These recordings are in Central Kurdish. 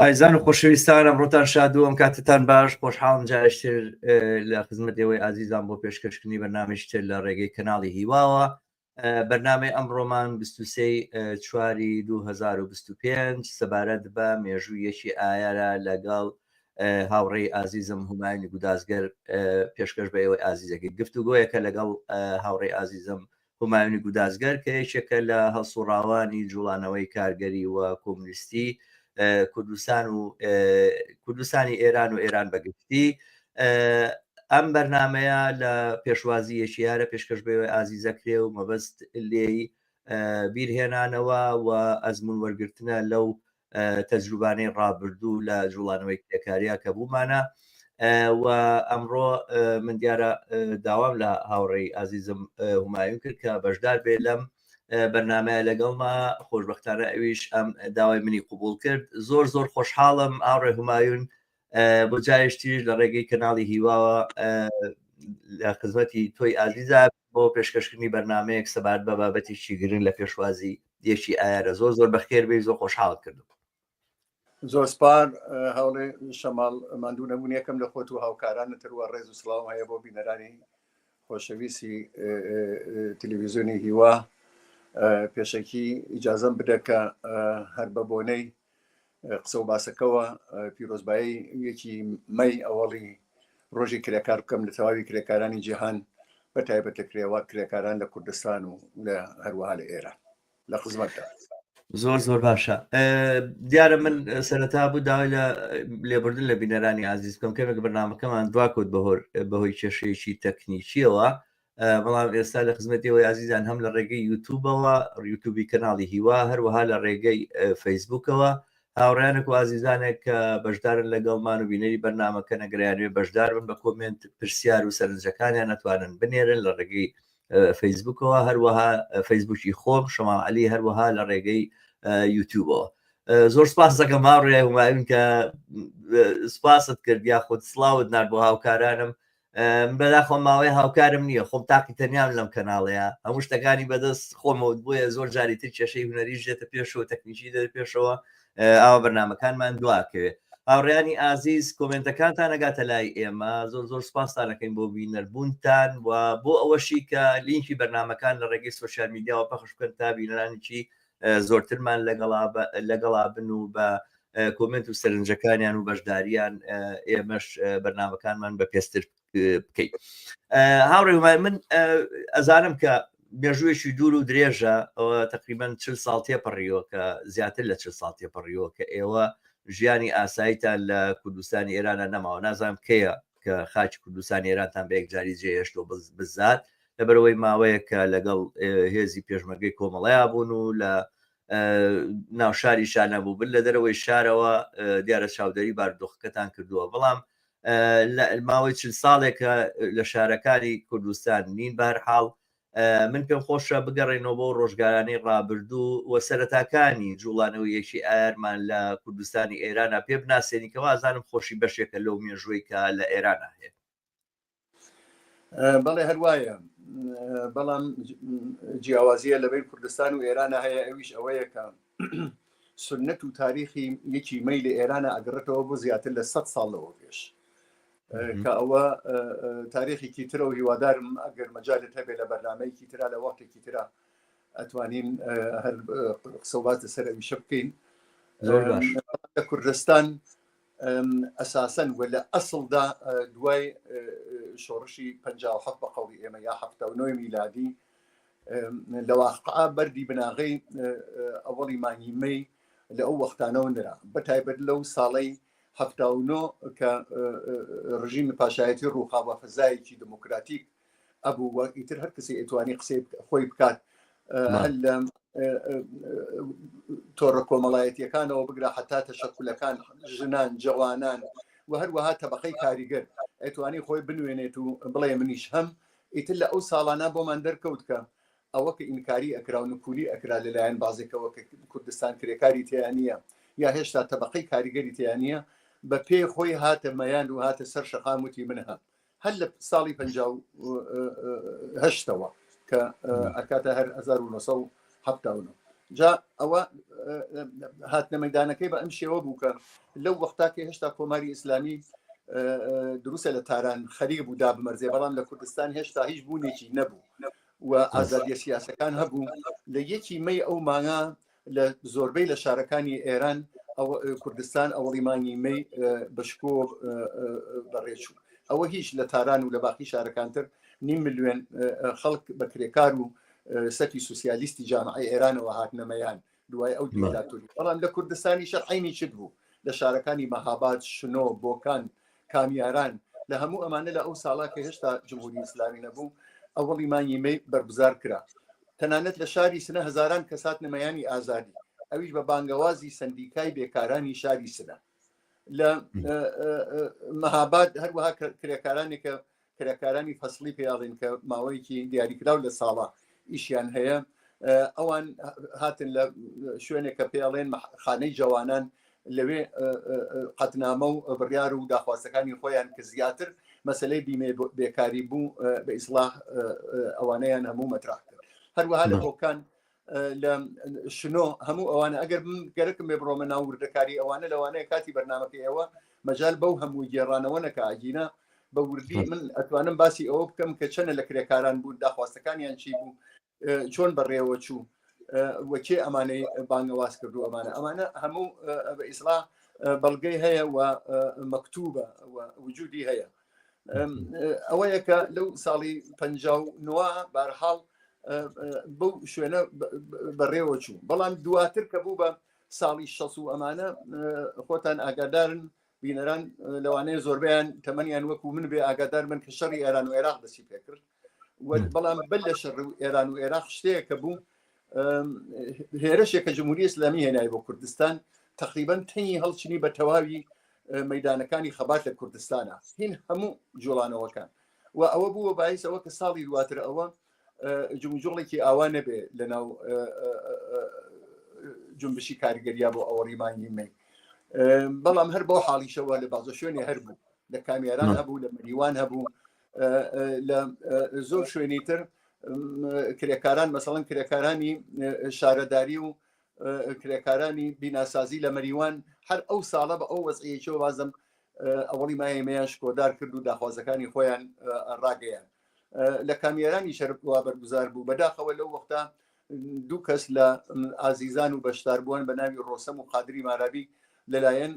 ئایزان و خۆشەویستان ئەمڕۆتان شاد و ئەم کاتتان باش خۆشحاڵم جاشتر لە خزمەت ئێوەی ئازیزان بۆ پێشکەشکردنی بەنامشتر لە ڕێگەی کەناڵی هیواوە بەرنامەی ئەمڕۆمان 23 چواری 2025 سەبارەت بە مێژوو یەکی ئایارە لەگەڵ هاوڕێی ئازیزم هومانی گودازگەر پێشکەش بە ئێوەی ئازیزەکە گفتوگۆیەکە لەگەڵ هاوڕێی ئازیزم هومایونی گودازگەر کە یەکێکە لە هەڵسوڕاوانی جوڵانەوەی کارگەری و کۆمونیستی کوردستان و کوردستانی ئێران و ئێران بەگشتی ئەم بەرنمەیە لە پێشوازی یەکیارە پێشکەش بەوێ ئازیزەکرێ و مەبەست لێی بیرهێنانەوە و ئەزمون وەرگرتنە لەو تەجروبانەی ڕابردوو لە جوڵانەوەی کرێکاریا کە بوومانە و ئەمڕۆ من دیارە داوام لە هاوڕێی ئازیزم هومایون کرد کە بەشدار بێ لەم بەرنمەیە لەگەڵما خۆشببختانە ئەویش ئەم داوای منی قوبول کرد زۆر زۆر خۆشحاڵم ئاڕێ هومایون بۆ جارێش تریش لە ڕێگەی کەناڵی هیواوە لە خزمەتی تۆی ئازیزا بۆ پێشکەشکردنی بەرنمەیەک سەبارەت بە بابەتێکی گرنگ لە پێشوازی یەکی ئایارە زۆر زۆر بەخێر بێ زۆر خۆشحاڵ کردو زۆر سپار هەوڵێ شەماڵ ماندوو نەبوون یەکەم لە خۆت و هاوکارانە تروە ڕێز و سلااو هەیە بۆ بینەرانی خۆشەویستی تلویزیۆنی هیوا پێشەکی ئیجازم بدە کە هەر بە بۆنەی قسە و باسەکەەوە پیرۆزبایی یەکی مەی ئەوەڵی ڕۆژی کرێکار بکەم لە تەواوی کرێکارانی جیهان بە تایبەتە کرێوە کرێکاران لە کوردستان و لە هەروەها لە ئێرە لە خزمەتدا زۆر زۆر باشە دیارە من سەرەتا بوو داوای لە لێبوردن لە بینەرانی ئازیز بکەم کەمێک بەنامەکەمان دواکوت بەهۆر بەهۆی کێشەیەکی تەکنیکیەوە بەڵام ئێستا لە خزمەتی ئەوەی ئازیزان هەم لە ڕێگەی یوتوبەوە یوتوبی کەناڵی هیوا هەروەها لە ڕێگەی فەیسبوکەوە هاوڕیانێک و ئازیزانێک کە بەشدارن لەگەڵمان و بینەری بەرنمەکە نەگریانوێ بەشدار بن بە کۆمنت پرسیار و سەرنجەکانیان نەتوانن بنێرن لە ڕێگەی فەیسبوکەوە هەروەها فەیسبوکی خۆم شەماڵ علی هەروەها لە ڕێگەی یوتیوبەوە زۆر سپاس دەکەم ماڕێ وماوین کە سپاست کرد یا خود سلااوت نار بۆ هاوکارانم بەداخۆ ماوەی هاوکارم نییە خۆم تاقی تەنیان لەم کەناڵەیە هەموو شتەکانی بەدەست خۆمەوت بۆیە زۆر جاری تر کێشەی هوەری ژێتە پێشەوە تەکنیکی دەر پێشەوە ئاوا بەرنمەکانمان دواکەوێت هاوڕیانی ئازیز کۆمنتەکانتان نەگاتە لای ئێمە زۆر زۆر سپاستانەکەین بۆ بینەربوونتان و بۆ ئەوەشی کە لینکی بەرنمەکان لە ڕێگەی سوسیال میدیاوە پەخش بکەن تا بینەرانێکی زۆرترمان لەگەڵا لەگەڵا بن و بە کۆمنت و سەرنجەکانیان و بەشداریان ئێمەش بەرنمەکانمان بە پێستر بکەیت هاوڕێ وای من ئەزانم کە مێژوویەکی دوور و درێژە ئەوە تقریبان چل ساڵ تێپەڕیوە کە زیاتر لە چل ساڵ تێپەڕیوە کە ئێوە ژیانی ئاساییتان لە کوردستانی ئێرانە نەماوە نازانم کەیە کە خاکی کوردستان ئێرانتان بە یەکجاری جێهێشتەوە بزات لەبەرەوەی ماوەیە کە لەگەڵ هێزی پێشمەرگەی کۆمەڵەیە بوون و لە ناو شاری شانەبوو بن لە دەرەوەی شارەوە دیارە چاودێری باردۆخەکەتان کردووە بەڵام ماوەی چل ساڵێکە لە شارەکانی کوردستان نین بارحاڵ من پێم خۆشە بگەڕێینەوە بۆ ڕۆژگارانەی ڕابردوو و سەرەتاکانی جوڵانەوەی یەکی ئایارمان لە کوردستانی ئێرانا پێ بناسێنی کە وازانم خۆشی بەشێکە لەو مێژووی کە لە ئێرانا هەیە بەڵێ هەروایە بەڵام جیاوازیە لەبەر کوردستان و ئێرانە هەیە ئەویش ئەوەیە کە سنت و تاریخی یەکی مەیل ئێرانە ئەگەڕێتەوە بۆ زیاتر لە 100 ساڵ لەوە پێش کە ئەوە تاریخێکی ترە و هیوادارم ئەگەر مەجالت هەبێت لە بەرنمەیەکی تررا لە وەختێکی تررا ئەتوانین هەر قسەبات لەسەر ئەویشە بکەین لە کوردستان ئەساسەن و لە ئەسڵدا دوای شۆڕشی 1970 بە قەڵی ئێمە یا 79 میلادی لە واقعا بەردی بناغەی ئەوەڵی مانگی مەی لە ئەو وەختانەوە نرا بە تایبەت لەو ساڵی هەفتا و نۆ کە ڕژیمی پاشایەتی ڕووخاوە فەزایەکی دموکراتیک ئەبوو وە ئیتر هەر کەسی ئەتوانی قسەی خۆی بکات هەر لە تۆڕە کۆمەڵایەتیەکانەوە بگرە حتا تەشەکولەکان ژنان جوانان و هەروەها تەبقەی کاریگەر ئەتوانی خۆی بنوێنێت و بڵێ منیش هەم ئیتر لە ئەو ساڵانە بۆمان دەرکەوت کە ئەوە کە ئینکاری ئەکرا و نکولی ئەکرا لە لایەن بازێکەوە کە کوردستان کرێکاری تێیان نییە یا هێشتا تەبقەی کاریگەری تێیان نییە بە پێی خۆی هاتە مەیان و هاتە سەر شەقام وتی من هەم هەر لە ساڵی پەنجا و هەشتەوە کە ئەکاتە هەر 1970 حەفتا و نۆ جا ئەوە هاتنە مەدانەکەی بە ئەم شێوە بوو کە لەو وەختا کە هێشتا کۆماری ئیسلامی دروستە لە تاران خەریک بوو دا بمەرزێ بەڵام لە کوردستان هێشتا هیچ بوونێکی نەبوو و ئازادیە سیاسەکان هەبوو لە یەکی مەی ئەو مانگا لە زۆربەی لە شارەکانی ئێران کوردستان ئەوڵیمانی مەی بەشکۆ بەڕێچوو ئەوە هیچ لە تاران و لە باقی شارەکانتر نیم ملیێن خەڵک بە کرێکار و سەتی سوسیالیستی جامعی ئێرانەوە هاتنە مەیان دوای ئەو دیکتاتوری بەڵام لە کوردستانی شەرعینی چت بوو لە شارەکانی مەهاباد شنۆ بۆکان کامیاران لە هەموو ئەمانە لە ئەو ساڵا کە هێشتا جمهوری ئیسلامی نەبوو ئەوڵی مانگی مەی بەرگزار کرا تەنانەت لە شاری سنە هزاران کەسات نمەیانی ئازادی ئەویش بە بانگەوازی سندیکای بێکارانی شاری سنە لە مەهاباد هەروەها کرێکارانی کە کرێکارانی فەسلی پیاڵین کە ماوەیەکی دیاریکراو لە ساڵە ئیشیان هەیە ئەوان هاتن لە شوێنێک کە پێڵێن خانەی جوانان لەوێ قەتنامە و بڕیار و داخوازەکانی خۆیان کە زیاتر مەسلەی بیمێ بێکاری بوو بە ئیسلاح ئەوانەیان هەموو مەتراح کرد هەروەها لە هۆکان لە شنۆ هەموو ئەوانە ئەگەر گەرەکم بێ بڕۆمە ناو وردەکاری ئەوانە لەوانەیە کاتی بەرنمەکە ئێوە مەجال بەو هەموو گێڕانەوە نەکە ئاگینە بە وردی من ئەتوانم باسی ئەوە بکەم کە چەنە لە کرێکاران بوون داخواستەکانیان چی بوو چۆن بەڕێوە چوو وەکێ ئەمانەی بانگەواز کردو ئەمانە ئەمانە هەموو بە ئیسلا بەڵگەی هەیە و مەکتوبە وجودی هەیە ئەوەیە کە لەو ساڵی پ نوە بارحاڵ بەو شوێنە بەڕێوە چوو بەڵام دواتر کە بوو بە ساڵی شەس و ئەمانە خۆتان ئاگادارن بینەران لەوانەیە زۆربیان تەمەنیان وەکو من بێ ئاگادار من کە شەڕی ئێران و عێراق دەسی پێکرد بەڵام بەر لە شەڕ و ئێران و عێراق شتەیەکە بوو هێرشێکە جمهوری ئسلامی هێنای بۆ کوردستان تقریبان تەنی هەڵچنی بە تەواوی مەدانەکانی خەبات لە کوردستانە هین هەموو جوڵانەوەکان و ئەوە بووە باعیسەوە کە ساڵی دواتر ئەوە جمجۆڵێکی ئاوا نەبێ لە ناو جنبشی کارگەریا بۆ ئەوە ڕیمانگی من بەڵام هەر بۆ حاڵیشەوە لە بازە شوێنێ هەر بوو لە کامیێران هەبوو لە مریوان هەبوو لە زۆر شوێنی تر کرێکاران مەسەڵەن کرێکارانی شارەداری و کرێکارانی بیناسازی لە مەریوان هەر ئەو ساڵە بە ئەو وەزعیەوە وازم ئەوڵی مایمەیان شکۆدار کرد و داخوازەکانی خۆیان ڕاگەیان لە کامیێرانی شەروا بەرگوزار بوو بەداخەوە لەو وەختا دوو کەس لە ئازیزان و بەشداربووان بە ناوی ڕۆسەم و قادری مارابی لەلایەن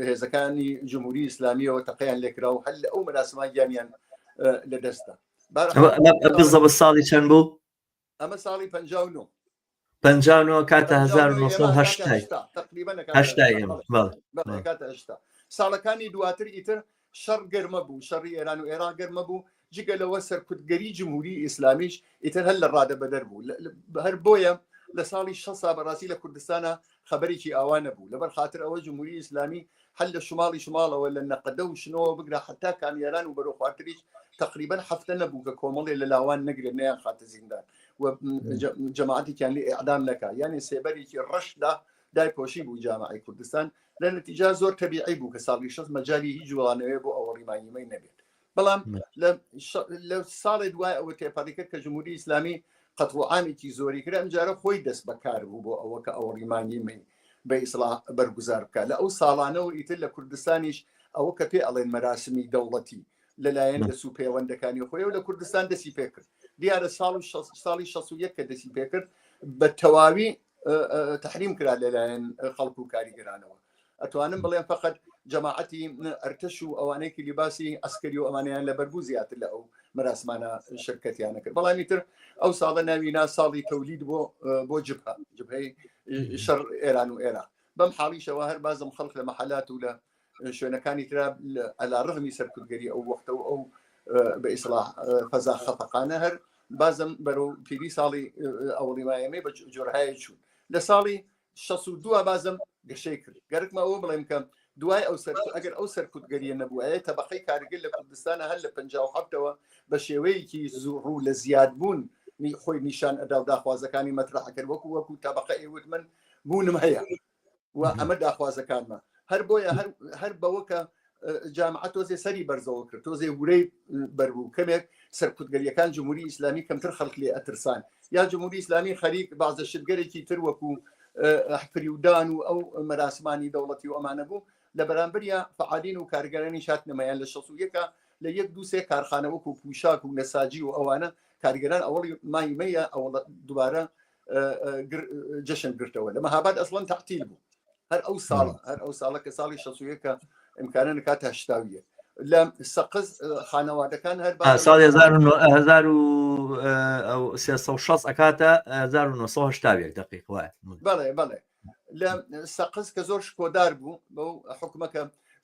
هێزەکانی جمهوری ئیسلامیەوە تەقیان لێکرا و هەل لە ئەو مەراسمان گیانیان لە دەستدا بزەبە ساڵی چەند بوو ئەمە ساڵی پ پ کاتە 1970 ساڵەکانی دواتر ئیتر شەڕ گەرمە بوو شەڕی ئێران و ئێرا گەرمە بوو جگە لەوە سەرکوتگەری جمهوری ئیسلامیش ئیتر هەر لە ڕادە بەدەر بوو هەر بۆیە لە ساڵی شە سا بەڕاستی لە کوردستانە خبرێکی ئاوا نەبوو لەبەر خاطر ئەوە جمهوری ئیسلامی هەل لە شماڵی شماڵەوە لە نەقەدە و شنەوە بگرە حتا کامیاران و بەرەو خوارتریش تقریبان هەفتە نەبوو کە کۆمەڵێ لە لاوان نەگرێت نیان خاتە زیندان و جەماعاتێکیان لێ ئەعدام نەکە یانێ سێبەرێکی ڕەشدا دای پۆشی بوو جامعی کوردستان لە نتیجا زۆر تەبیعی بوو کە ساڵی شەست مەجای هیچ جوڵانەوەێ بۆ ئەوەڵی مانیمەی نەبێت بەڵام لە ساڵێ دوای ئەوە تێپەڕیکە کە جمهوری ئیسلامی قەتڵعامێکی زۆری کرا ئەمجارە خۆی دەست بەکار بوو بۆ ئەوە کە ئەوەڵی مانیمەی بە ئیسلا بەرگوزار بکە لە ئەو ساڵانەوە ئیتر لە کوردستانیش ئەوە کە پێ ئەڵێن مەراسمی دەوڵەتی لەلایەن دەس و پەیوەندەکانی خۆی و لە کوردستان دەسی پێکرد دیارە ساڵ و ساڵی 16 کە دەسی پێکرد بە تەواوی تحریم کرا لەلایەن خەڵک و کاریگەرانەوە ئەتوانم بڵێن فقط جەماعەتی ئەرتش و ئەوانەیەکی لیباسی ئەسکەری و ئەمانیان لە بەربوو زیاتر لە ئەو مەراسمانە شرکەتیان نەکرد بەڵامی تر ئەو ساڵە ناوینا ساڵی تەولید بۆ بۆ جبهە جبهەی شەڕ ئێران و ئێران بەم حاڵیشەوە هەر بازم خەڵک لە مەحلات و لە شوێنەکانی تررا ئەلا ڕغمی سەرکردگەری ئەو وەختە و ئەو بە ئیسلا فەزا خەفقانە هەر بازم بەرەو پیری ساڵی ئەوڵی مایەمەی بە جۆرهایە چوون لە ساڵی 1962 بازم گەشەی کرد گەرکمە ئەوە بڵێم کەم دوای ئەو سەر ئەگەر ئەو سەرکوتگەریە نەبووە تەبقەی کارگر لە کوردستانە هەر لە 1970ەوە بە شێوەیەکی زوو لە زیاد بوون خۆی نیشان ئەدا و داخوازەکانی مەترحەکرد وەکو وەکو تەبقە ئێوت من بوونم هەیە و ئەمە داخوازەکانمە هەر بۆیە هەر بەوەکە جامعە تۆزێ سەری بەرزەوە کرد تۆزێ ورەی بەربوو کەمێک سەرکوتگەریەکان جمهوری ئیسلامی کەمتر خەڵک لێ ئەترسان یا جمهوری ئیسلامی خەریک بازە شتگەرێکی تر وەکو فریودان و ئەو مەراسمانی دەوڵەتی و ئەمانە بوو لە بەرامبەریا فعالین و کارگەرانی شات نمایان لە شەسویەکە لە یەک دووسێ کارخانەوەکو پوشاک و نەساجی و ئەوانە کارگەران ئەوڵی مایمەیە ئەوڵ دوبارە جەشن گرتەوە لە مەهاباد ئەسڵەن تەحتیل بوو هەر ئەو ساڵ هەر ئەو ساڵە کە ساڵی شەسوەکە ئەمکانە نکات هەشتاویە لە سەقز خانەوادەکان هەر ساڵ 1960 ئەکاتە 1970 دقیق وایە بڵێ بڵێ لە سەقز کە زۆر شکۆدار بوو بەو حکومەکە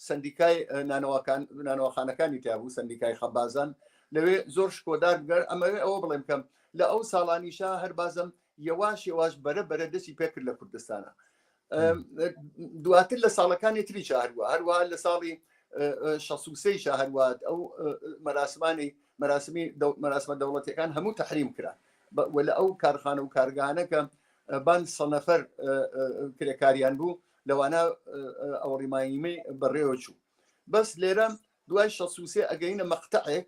سندیکای نانەوەکان نانەوەخانەکانی تیابوو سندیکای خەبازان لەوێ زۆر شکۆدار بگەر ئەمەوێ ئەوە بڵێم کەم لە ئەو ساڵانیشا هەر بازم یەواش یەواش بەرە بەرە دەستی پێکرد لە کوردستانە دواتر لە ساڵەکانی تری شاهروە هەروە لە ساڵی شەسوسی شاهروات ئەو مەراسمانی مەراسمی مەراسمە دەوڵەتەکان هەموو تحریم کرا لە ئەو کارخانە و کارگانەکە بان سە نەفەر کرێکاریان بوو لەوانە ئەوڕیماییمەی بەڕێوە چوو بەس لێرە دوای شەسوسێ ئەگەینە مەقتەعێک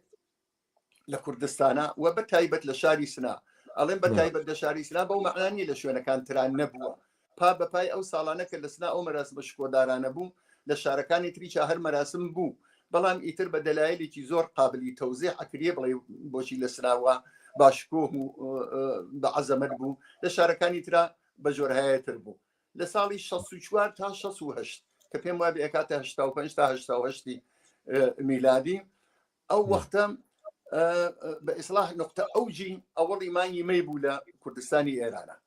لە کوردستانە و بە تایبەت لە شاری سنا ئەڵێن بە تایبەت لە شاری سنا بەو مەعلانی لە شوێنەکان تران نەبووە پا بەپای ئەو ساڵانە کە لە سنا ئەو مەراسمە شکۆدارانە بوو لە شارەکانی تریچا هەر مەراسم بوو بەڵام ئیتر بە دەلایلێکی زۆر قابلی تەوزێ ئەکرێ بڵێ بۆچی لە سراوە باشکۆه و بە عەزەمەت بوو لە شارەکانی تررا بە جۆرهایەتر بوو لە ساڵی 16 تا 16 کە پێم وای بەکاتە 5 تا 1970 میلادی ئەو وەختە بە ئیسلاح نقطە ئەوجی ئەوەڵی مانگی مەی بوو لە کوردستانی ئێرانە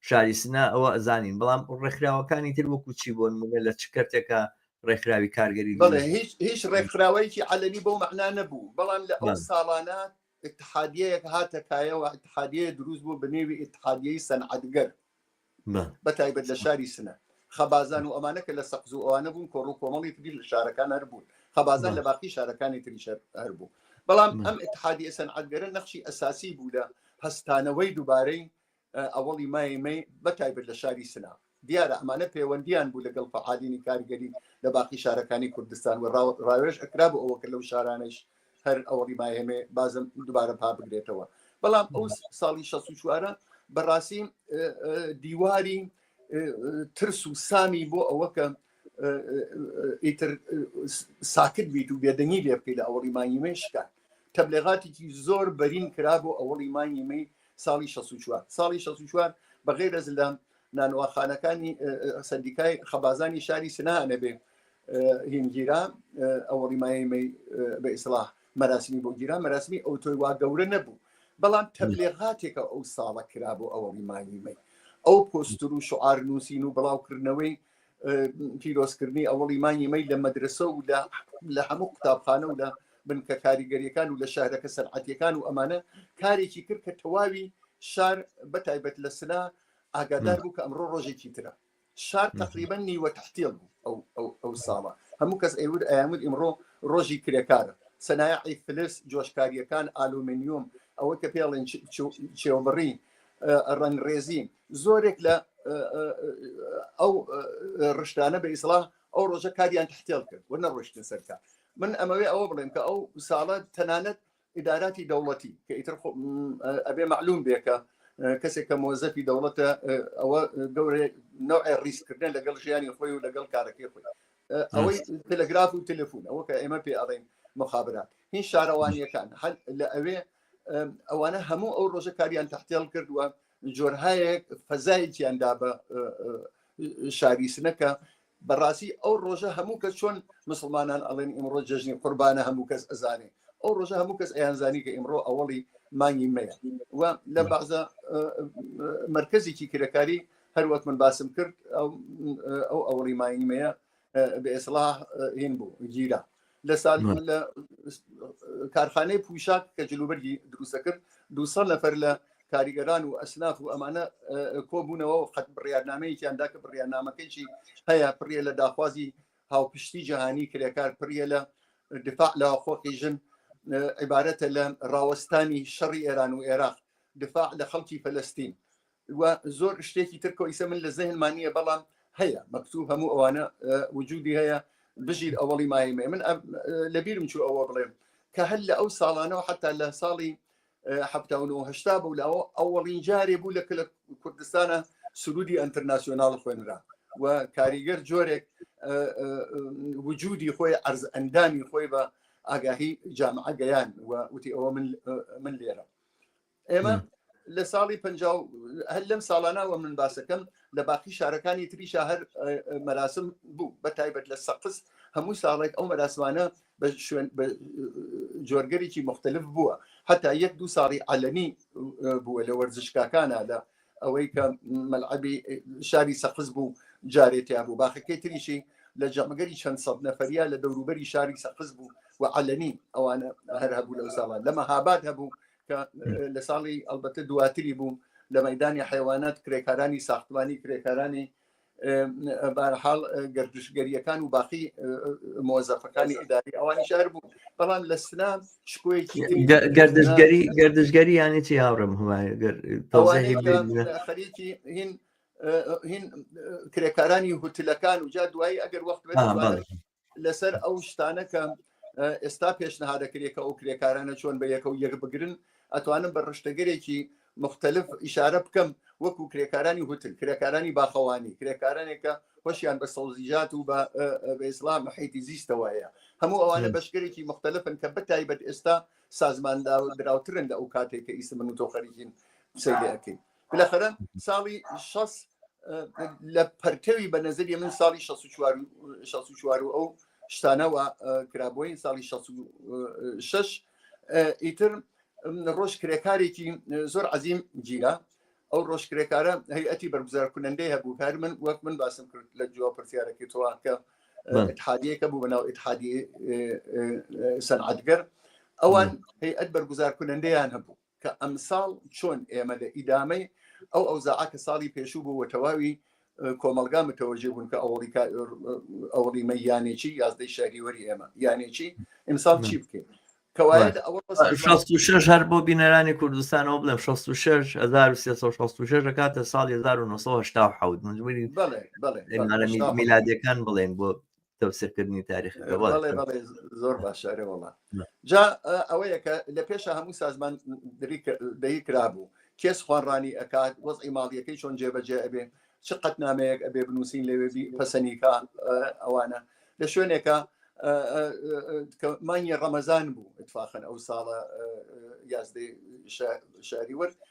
شاری سنە ئەوە ئەزانین بەڵام ڕێکخراوەکانی تر وەکو چی بۆن مونە لە چ کەرتێکە ڕێکخراوی کارگەری هیچ ڕێکخراوەیەکی عەلەمی بەو مەعنا نەبوو بەڵام لە ئەو ساڵانە اتحادیەک هاتە کایەوە اتحادیە دروست بوو بنێوی اتحادیەی سەنعەتگەر بە تایبەت لە شاری سنە خەبازان و ئەمانە کە لە سەقز و ئەوانە بوون کۆڕ و کۆمەڵی تری لە شارەکان هەر بوون خەبازان لە باقی شارەکانی تری شەر هەر بوو بەڵام ئەم اتحادی ئەسەن عدگەرە نەخشی ئەساسی بوو لە هەستانەوەی دووبارەی ئەوەڵی مای مەی بەتایبەت لە شاری سلااف دیارە ئەمانە پەیوەندیان بوو لەگەڵ فعالینی کاریگەری لە باقی شارەکانی کوردستان و ڕاوێژ ئەکرا بۆ ئەوەکە لەو شارانش هەر ئەوەڵی ماهێمێ بازم دوبارە پا بگرێتەوە بەڵام ئەو ساڵی 16 چوارە بەڕاستی دیواری ترس و سامی بۆ ئەوەکە ئیتر ساکت بیت و بێدەنگی لێ بکەیت لە ئەوەڵی مایمێ شکات تەبلێغاتێکی زۆر بەرین کرا بۆ ئەوەڵی مانگی مەی ساڵی 64 ساڵی 64 بەغی رەزلام نانواخانەکانی سندیکای خەبازانی شاری سنانە بێ هینگیرا ئەوەڵی مای مەی بە ئیسلاح مەراسمی بۆ گیرا مەراسمی ئەو تۆی وا گەورە نەبوو بەڵام تەبلێغاتێکە ئەو ساڵە کرا بۆ ئەوەڵی مانگی مەی ئەو پۆستر و شعار نووسین و بڵاوکردنەوەی پیرۆزکردنی ئەوەڵی مانگی مەی لە مەدرسە و لە هەموو قوتابخانە و لە بنکە کاریگەریەکان و لە شارەکە سەرعەتەکان و ئەمانە کارێکی کرد کە تەواوی شار بە تایبەت لە سنا ئاگادار بوو کە ئەمڕۆ ڕۆژێکی ترە شار تقریبا نیوە تحتیل بوو ئەو ئەو ئەو ساڵە هەموو کەس ئەیور ئەیامود ئیمڕۆ ڕۆژی کرێکارە سەنایعی فلس جۆشکاریەکان ئالومنیوم ئەوە کە پێڵێن چێوبڕی ڕەنگڕێزی زۆرێک لە ئەو ڕشتانە بە ئیسڵا ئەو ڕۆژە کاریان تحتێڵ کرد و نەڕۆشتن سەرکە من ئەمەوێ ئەوە بڵێم کە ئەو ساڵە تەنانەت ئیداراتی دەوڵەتی کە ئیتر ئەبێ معلوم بێکە کەسێک کە مۆزەفی دەوڵەتە ئەوە گەورە نوعێ ڕیسکردن لەگەڵ ژیانی خۆی و لەگەڵ کارەکەی خۆی ئەوەی تەلگراف و تەلفون ئەوە کە ئێمە پێ ئەڵێن مخابرات هیچ شارەوانیەکان هەل لە ئەوێ ئەوانە هەموو ئەو ڕۆژە کاریان تحتێڵ کردووە جۆرهایەک فەزایەکیان دا بە شاریسنەکە بەڕاستی ئەو ڕۆژە هەموو کە چۆن مسلمانان ئەڵێن ئیمڕۆ جژنی قوربانە هەموو کەس ئەزانێ ئەو ڕۆژە هەموو کەس ئەیانزانی کە ئیمڕۆ ئەوڵی مانگی مەیە و لە بازە مرکزێکی کرەکاری هەروەک من باسم کرد ئەو ئەوڵی مانگی مەیە بە ئێسڵا هین بوو گیرە لە سال لە کارخانەی پوشاک کە جلوبەرگی دروستە کرد دوسە نەفەر لە کاریگەران و ئەسناف و ئەمانە کۆبوونەوە و قەت بڕیارنامەیەکیاندا کە بڕیارنامەکەیی هەیە پڕە لە داخوازی هاوپشتی جیهانی کرێکار پڕە لە دفاع لە خۆقی ژن عیبارەتە لە ڕاوەستانی شەڕی ئێران و عێراق دفاع لە خەڵکی فلستین و زۆر شتێکی تر کۆیسە من لە زەهن مانیە بەڵام هەیە مەکتوب هەموو ئەوانە وجودی هەیە بژیر ئەوەڵی مایمێ من لەبیرم چوو ئەوە بڵێم کە هەر لە ئەو ساڵانەوە حتا لە ساڵی هەشتا بوو لاوە ئەوەڵین جارێ بوو لە کلە کوردستانە سرودی ئەتەرناسیۆناڵ خوێنرا و کاریگەر جۆرێک وجودی خۆی ئەرز ئەندامی خۆی بە ئاگاهی جامعە گەیان و وتی ئەوە من لێرە ئێمە لە ساڵی پ هەر لەم ساڵانەوە من باسەکەم لە باقی شارەکانی تریشا هەر مەراسم بوو بە تایبەت لە سەقز هەموو ساڵێک ئەو مەراسمانە بە شوێن جۆرگەرێکی مختلف بووە هەتا یەک دوو ساڵی عەلەمی بووە لە وەرزشکاکانە لە ئەوەی کە مەلعبی شاری سەقز بوو جارێتیا بوو باخەکەی تریشی لە جەمەگەری چەند سەد نەفریا لە دەوروبەری شاری سەقز بوو و عەلەمی ئەوانە هەر هەبوو لەو ساڵان لە مەهاباد هەبوو لە ساڵی ئەلبەتە دواتری بوو لە مەدانی حیوانات کرێکارانی ساختمانی کرێکارانی بارحاڵ گردشگەریەکان و باقی مۆزەفەکانی ئیداری ئەوانی شار بوو بەڵام لە سنا شکۆیەکی گردشگەری گردشگەری یانی چی هاوڕم خەریکی هین هین کرێکارانی هوتلەکان و جا دوایی ئەگەر وەخت لەسەر ئەو شتانە کە ئێستا پێشنهادەکرێت کە ئەو کرێکارانە چۆن بە یەکە و یەک بگرن ئەتوانم بە ڕشتەگەرێکی مختلف ئیشارە بکەم وەکو کرێکارانی هوتل کرێکارانی باخەوانی کرێکارانێکە هۆشیان بە سەوزیجات و بە ئیسلام حیتی زیستەوەیە هەموو ئەوانە بەشگەرێکی مختلفن کە بەتایبەت ئێستا سازمان دراوترن لە ئەو کاتێک کە ئیسم من و تۆ خەریکین سەیرەکەین بالاخرە ساڵی شەس لە پەرکەوی بە نەزری من ساڵی شە چوار شە چوار و ئەو شتانەوە کرابووین ساڵی شش ئیتر ڕۆژ کرێکارێکی زۆر عزیم گیرە ئەو ڕۆژ کرێکارە هەیئەتی بەرگزار کونەندەی هەبوو کار من وەک من باسم کرد لە جواب پرسیارەکەی تۆوان کە اتحادیەکە بوو بەناو اتحادی سەنعاتگەر ئەوان هەیئەت بەرگزار کونەندەیان هەبوو کە ئەمساڵ چۆن ئێمە لە ئیدامەی ئەو ئەوزاعە کە ساڵی پێشوو بوو و تەواوی کۆمەلگا متەوەژێ بوون کە ئەوڵیکا ئەوڵیمە یانێکی یازدەی شاریوەری ئێمە یانێکی ئیمساڵ چی بکەین کەوایە لە ئەوە 66 هەر بۆ بینەرانی کوردستانەوە بڵێم 66 1366 کاتە ساڵی 1970 حوت مجبوری بەڵێ بەڵێ میلادەکان بڵێن بۆ تەوسەکردنی تاریخی زۆر باشارێ وڵات جا ئەوەیە کە لە پێشە هەموو سازمان دەی کرابوو کێس خوانڕانی ئەکات وەزی ماڵیەکەی چۆن جێبەجێ ئەبێ چ قەت نامەیەک ئەبێ بنووسین لەوێ پەسەنیکە ئەوانە لە شوێنێکە مانگی ڕەمەزان بوو اتفاقن ئەو ساڵە یازدەی شاری ورد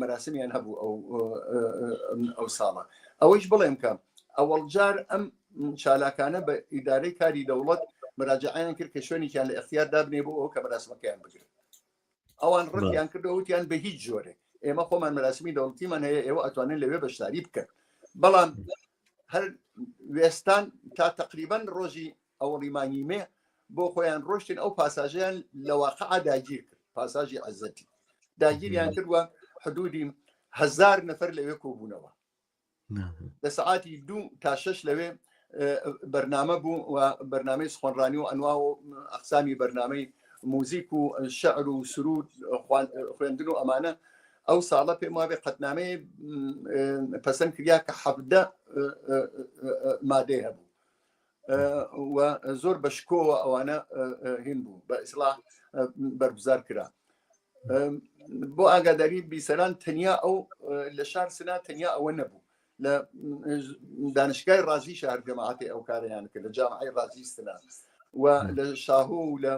مەراسمیان هەبوو ئەو ئەو ساڵە ئەوەیش بڵێم کە ئەوەڵجار ئەم چالاکانە بە ئیدارەی کاری دەوڵەت مراجعیان کرد کە شوێنێکیان لە اختیار دابنێ بۆ ئەو کە مەراسمەکەیان بگرن ئەوان ڕەتیان کردەوە وتیان بە هیچ جۆرێ ئێمە خۆمان مەراسمی دەوڵتیمان هەیە ئێوە ئەتوانن لەوێ بەشداری بکەن بەڵام هەر وێستان تا تقریبان ڕۆژی ئەوەڵی مانگی مێ بۆ خۆیان ڕۆشتن ئەو پاساژیان لە واقع داگیر کرد پاساژی عزەتی داگیریان کردوە حدودی هزار نەفەر لەوێ کۆبوونەوە لە سعاتی دوو تا شش لەوێ بەرنامە بوو و بەرنمەی سخۆنڕانی و ئەنوا و ئەقسامی بەرنمەی موزیک و شعر و سرود خوێندن و ئەمانە ئەو ساڵە پێم وابێ قەتنامەی پەسەند کریا کە حەفدە مادەی هەبوو و زۆر بە شکۆوە ئەوانە هین بوو بە ئیسلا بەرگزار کرا بۆ ئاگاداری بیسەران تەنیا ئەو لە شار سنا تەنیا ئەوە نەبوو لە دانشگای ڕازی شار جەماعاتی ئەو کاریان کرد لە جامعی ڕازی سنا و لە شاهۆ و لە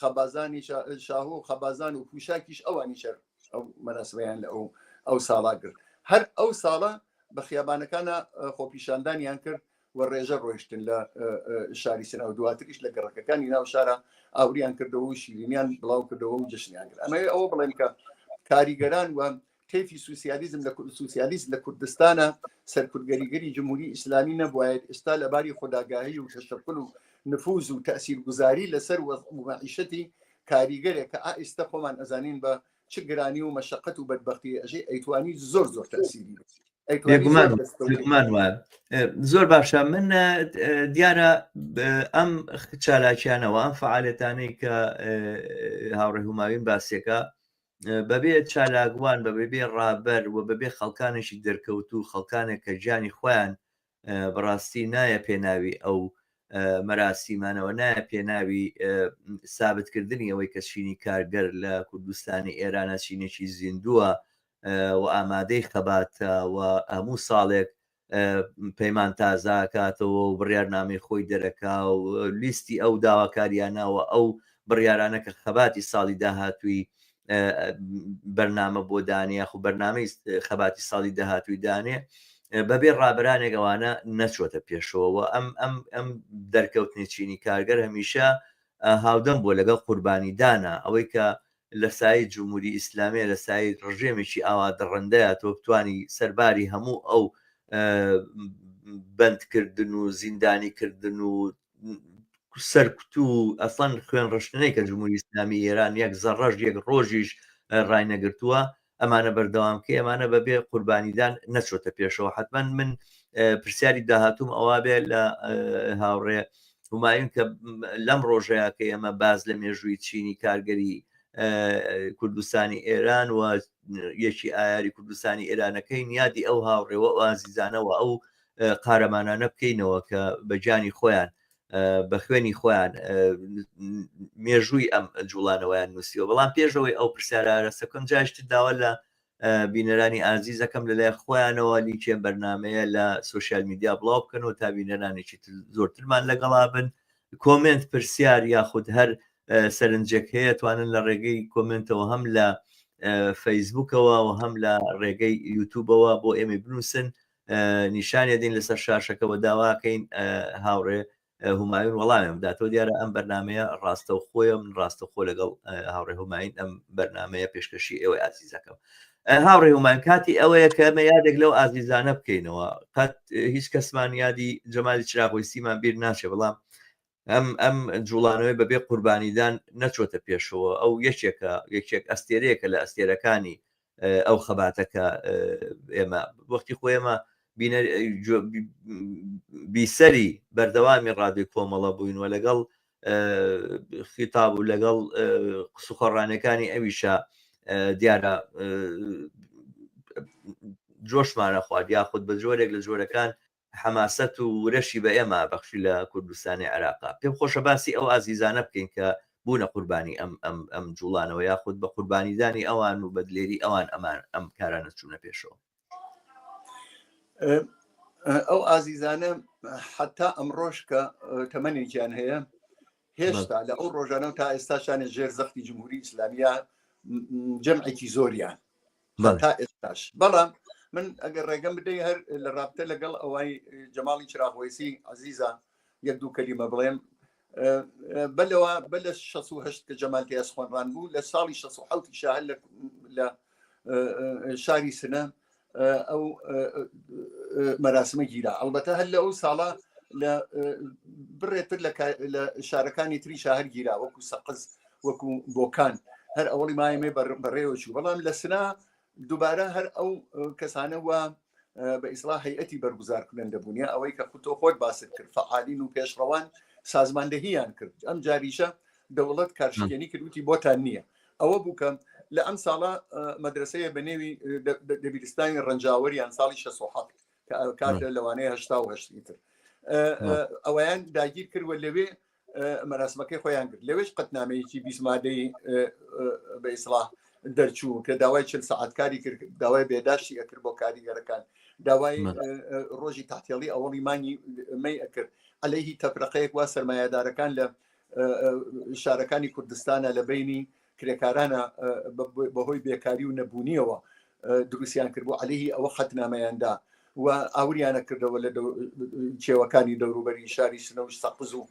خەبازانی شاهۆ و خەبازان و پوشاکیش ئەوانی شەر ئەو مەناسبیان لە ئەو ئەو ساڵا کرد هەر ئەو ساڵە بە خیابانەکانە خۆپیشاندانیان کرد و ڕێژە ڕۆیشتن لە شاری سنە و دواتریش لە گەڕەکەکانی ناو شارە ئاوریان کردەوە و شیرینیان بڵاو کردەوە و جشنیان کرد ئەمەوێ ئەوە بڵێن کە کاریگەران و کەفی سوسیالیزم لە سوسیالیست لە کوردستانە سەرکردگەریگەری جمهوری ئیسلامی نەبواێت ئێستا لە باری خوداگاهی و تەشەکل و نفوز و تەسیرگوزاری لەسەر وەزعیشەتی کاریگەرێک کە ئائستا خۆمان ئەزانین بە چ گرانی و مەشقەت و بەدبختی ئەژێ ئەیتوانی زۆر زۆر تەسیری زۆر باشە من دیارە ئەم چالاکیانەوە ئەم فعالەتانەی کە هاوڕێ هوماوین باسیەکە بەبێ چالاکوان بە بەبێ ڕابەر و بەبێ خەڵکانێکی دەرکەوت و خەڵکانێک کە گیانی خۆیان بەڕاستی نایە پێناوی ئەو مەراسیمانەوە نایە پێناوی سابتکردنی ئەوەی کە چینی کارگەر لە کوردستانی ئێرانە چینێکی زیندووە و ئامادەی خەباتە و هەموو ساڵێک پەیمان تازاکاتەوە و بڕارنامەی خۆی دەرەکا و لیستی ئەو داواکاریانەوە ئەو بڕیارانە کە خەباتی ساڵی داهاتووی بەرنامە بۆ دانێ خو بەرنامەی خەباتی ساڵی داهاتووی دانێ بەبێ ڕابرانێک ئەوانە نەچۆتە پێشەوە ئەم ئەم ئەم دەرکەوتنی چینی کارگەر هەمیشە هاودەم بۆ لەگەڵ قوربانی دانا ئەوەی کە لە سای جمهوری ئیسلامیە لە سای ڕژێمێکی ئاوا دڕندەیە تۆ بتانی سەرباری هەموو ئەو بەندکردن و زیندانی کردن و سەرکوت و ئەسان خوێن ڕشتنەی کە جمهوری ئسلامی ئێران یەک زەڕژ یەک ڕۆژیش ڕاینەگرتووە ئەمانە بەردەوام کە ئەمانە بەبێ قوربانیدان نەچۆتە پێشەوە حتمما من پرسیاری داهاتوم ئەوە بێ لە هاوڕێ هومایون کە لەم ڕۆژەیە کە ئێمە باز لە مێژووی چینی کارگەری کوردستانی ئێران و یەکی ئایاری کوردستانی ئێرانەکەی نیادی ئەو هاوڕێوە ئازیزانەوە ئەو قارەمانانە بکەینەوە کە بە گیانی خۆیان بە خوێنی خۆیان مێژووی ئەم جوڵانەوەیان نووسیوە بەڵام پێشەوەی ئەو پرسیارارە سەکەم جاشت داوا لە بینەرانی ئازیزەکەم لەلای خۆیانەوە لیکێ بەرنمەیە لە سوسیال میدیا بڵاو بکەنەوە تا بینەرانێکی زۆرترمان لەگەڵا بن کۆمنت پرسیار یاخود هەر سەرنجێک هەیە توانن لە ڕێگەی کۆمنتەوە هەم لە فەیسبوکەوە و هەم لە ڕێگەی یوتوبەوە بۆ ئێمە بنووسن نیشانیدەین لەسەر شاشەکە وە داواکەین هاوڕێ هومایون وەڵامیان بداتەوە دیارە ئەم بەرنمەیە ڕاستە و خۆیە من ڕاستە خۆ لەگەڵ هاوڕێ هوماین ئەم بەرنمەیە پێشکەشی ئێوەی ئازیزەکەم هاوڕێ هومان کاتی ئەوەیە کە ئەمە یادێک لەو ئازیزانە بکەینەوە قەت هیچ کەسمان یادی جەمالی چراغۆیسیمان بیر ناچێ بەڵام ئەم ئەم جوڵانەوەی بەبێ قوربانیدان نەچۆتە پێشەوە ئەو یەکێکە یەکێک ئەستێرەیەکە لە ئەستێرەکانی ئەو خەباتەکە ئێمە وەختی خۆ ئێمە بیسەری بەردەوامی ڕادوی کۆمەڵە بووین و لەگەڵ خیتاب و لەگەڵ قسوخۆڕانەکانی ئەویشە دیارە جۆشمانە خوارد یاخود بە جۆرێک لە جۆرەکان حەماسەت و ورەشی بە ئێمە بەخشی لە کوردستانی عێراقا. پێم خۆشە باسی ئەو ئازیزانە بکەین کە بوونە قوربانی ئەم ئەم ئەم جووڵانەوە یاخود بە قوربانیدانی ئەوان و بە دلێری ئەوان ئەمان ئەم کارانە چوونە پێشەوە. ئەو ئازیزانە حەتا ئەمڕۆش کە تەمەنێکیان هەیە هێشتا لە ئەو ڕۆژانە و تا ئێستاشانە ژێر زەختی جمهوری ئیسلامیە جەمعێکی زۆریان تا ئێستاش بەڵام من ئەگەر ڕێگەم بدەی هەر لە ڕابتە لەگەڵ ئەوەی جەماڵی چراغۆیسی عزیزە یەک دوو کەلیمە بڵێم بەلەوە بە لە 16 کە جەمالتیاس خوۆنڕان بوو لە ساڵی 16 شاهل لە شاری سنە ئەو مەراسمە گیرا ئەڵبەتە هەر لە ئەو ساڵە لە بڕێتر لە شارەکانی تری شاهر گیرا وەکو سەقز وەکو بۆکان هەر ئەوڵی مایمێ بەڕێوەچوو بەڵام لە سنا دووبارە هەر ئەو کەسانە وە بە ئیسلا هەیەتی بەرگزار کنن دەبوونە ئەوەی کە خودۆ خۆت باست کرد فعالین و پێشڕەوان سازماندەهیان کرد ئەم جاریشە دەوڵەت کارشکێنی کردوتی بۆتان نییە ئەوە بوو کە لە ئەم ساڵە مەدرسەیە بە نێوی دەبیرستانی ڕەنجاوەریان ساڵی 16 کاتە لەوانەیە هشتا و هەشتی تر ئەویان داگیر کردوە لەوێ مەراسمەکەی خۆیان کرد لەوێش قەتنامەیەکی بیسمادەی بە ئیسلاح دەرچوو کە داوای چل سعات کاری کرد داوای بێداشتی ئەکرد بۆ کاریگەرەکان داوای ڕۆژی تاتێڵی ئەوەڵی مانگی مەی ئەکرد ئەلەیهی تەفرەقەیەک وا سرمایهدارەکان لە شارەکانی کوردستانە لە بینی کرێکارانە بەهۆی بێکاری و نەبوونیەوە دروستیان کرد بۆ عليهەیهی ئەوە حەتنامەیاندا و ئاوریانە کردەوە لە چێوەکانی دەوروبەری شاری سنەوش سەقز و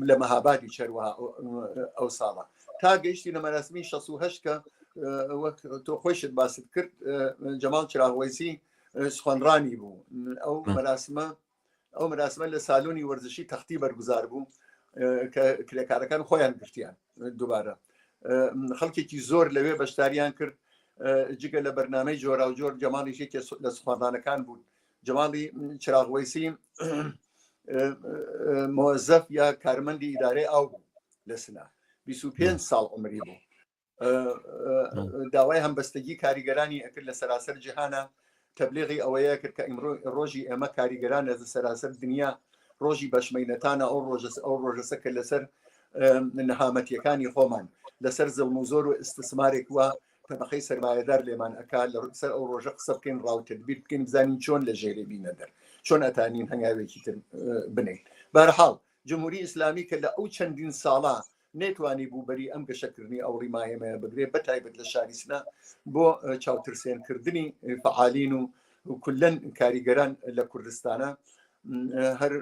لە مەهابادی چەروە ئەو ساڵە تا گەیشتی لە مەراسمی 16 کە وەک تۆ خۆشت باست کرد جەماڵ چراغوەیسی سخۆنڕانی بوو ئەو مەراسمە ئەو مراسمە لە سالۆنی وەرزشی تەختی بەرگزار بوو کە کرێکارەکان خۆیان گرتیان دووبارە خەڵکێکی زۆر لەوێ بەشداریان کرد جگە لە بەرنمەی جۆرا و جۆر جەماڵیشی لە سوخواردانەکان بوون جەماڵی چراغوەیسی مۆزەف یا کارمەندی ئیدارەی ئاو بوو لە سنا 25 ساڵ عمری بوو داوای هەمبەستگی کاریگەرانی ئەکرد لە سەراسەر جیهانە تەبلیغی ئەوەیە کرد کە ئیمڕۆ ڕۆژی ئێمە کاریگەران لە سەراسەر دنیا ڕۆژی بەشمەینەتانە ئەو ڕۆژەس ئەو ڕۆژەسە کە لەسەر نەهامەتیەکانی خۆمان لەسەر زڵم و زۆر و ئستسمارێک وە تەبقەی سەرمایەدار لێمان ئەک لە سەر ئەو ڕۆژە قسە بکەین ڕاوتر بیر بکەین بزانین چۆن لە ژێری بینە دەر چۆن ئەتانین هەنگاوێکی تر بنین بەرحاڵ جمهوری ئیسلامی کە لە ئەو چەندین ساڵە نەیتوانیبوو بەری ئەم گەشەکردنی ئەوڕی ماهێمەیە بگرێت بە تایبەت لە شاری سنە بۆ چاوترسێنکردنی فعالین و کلەن کاریگەران لە کوردستانە هەر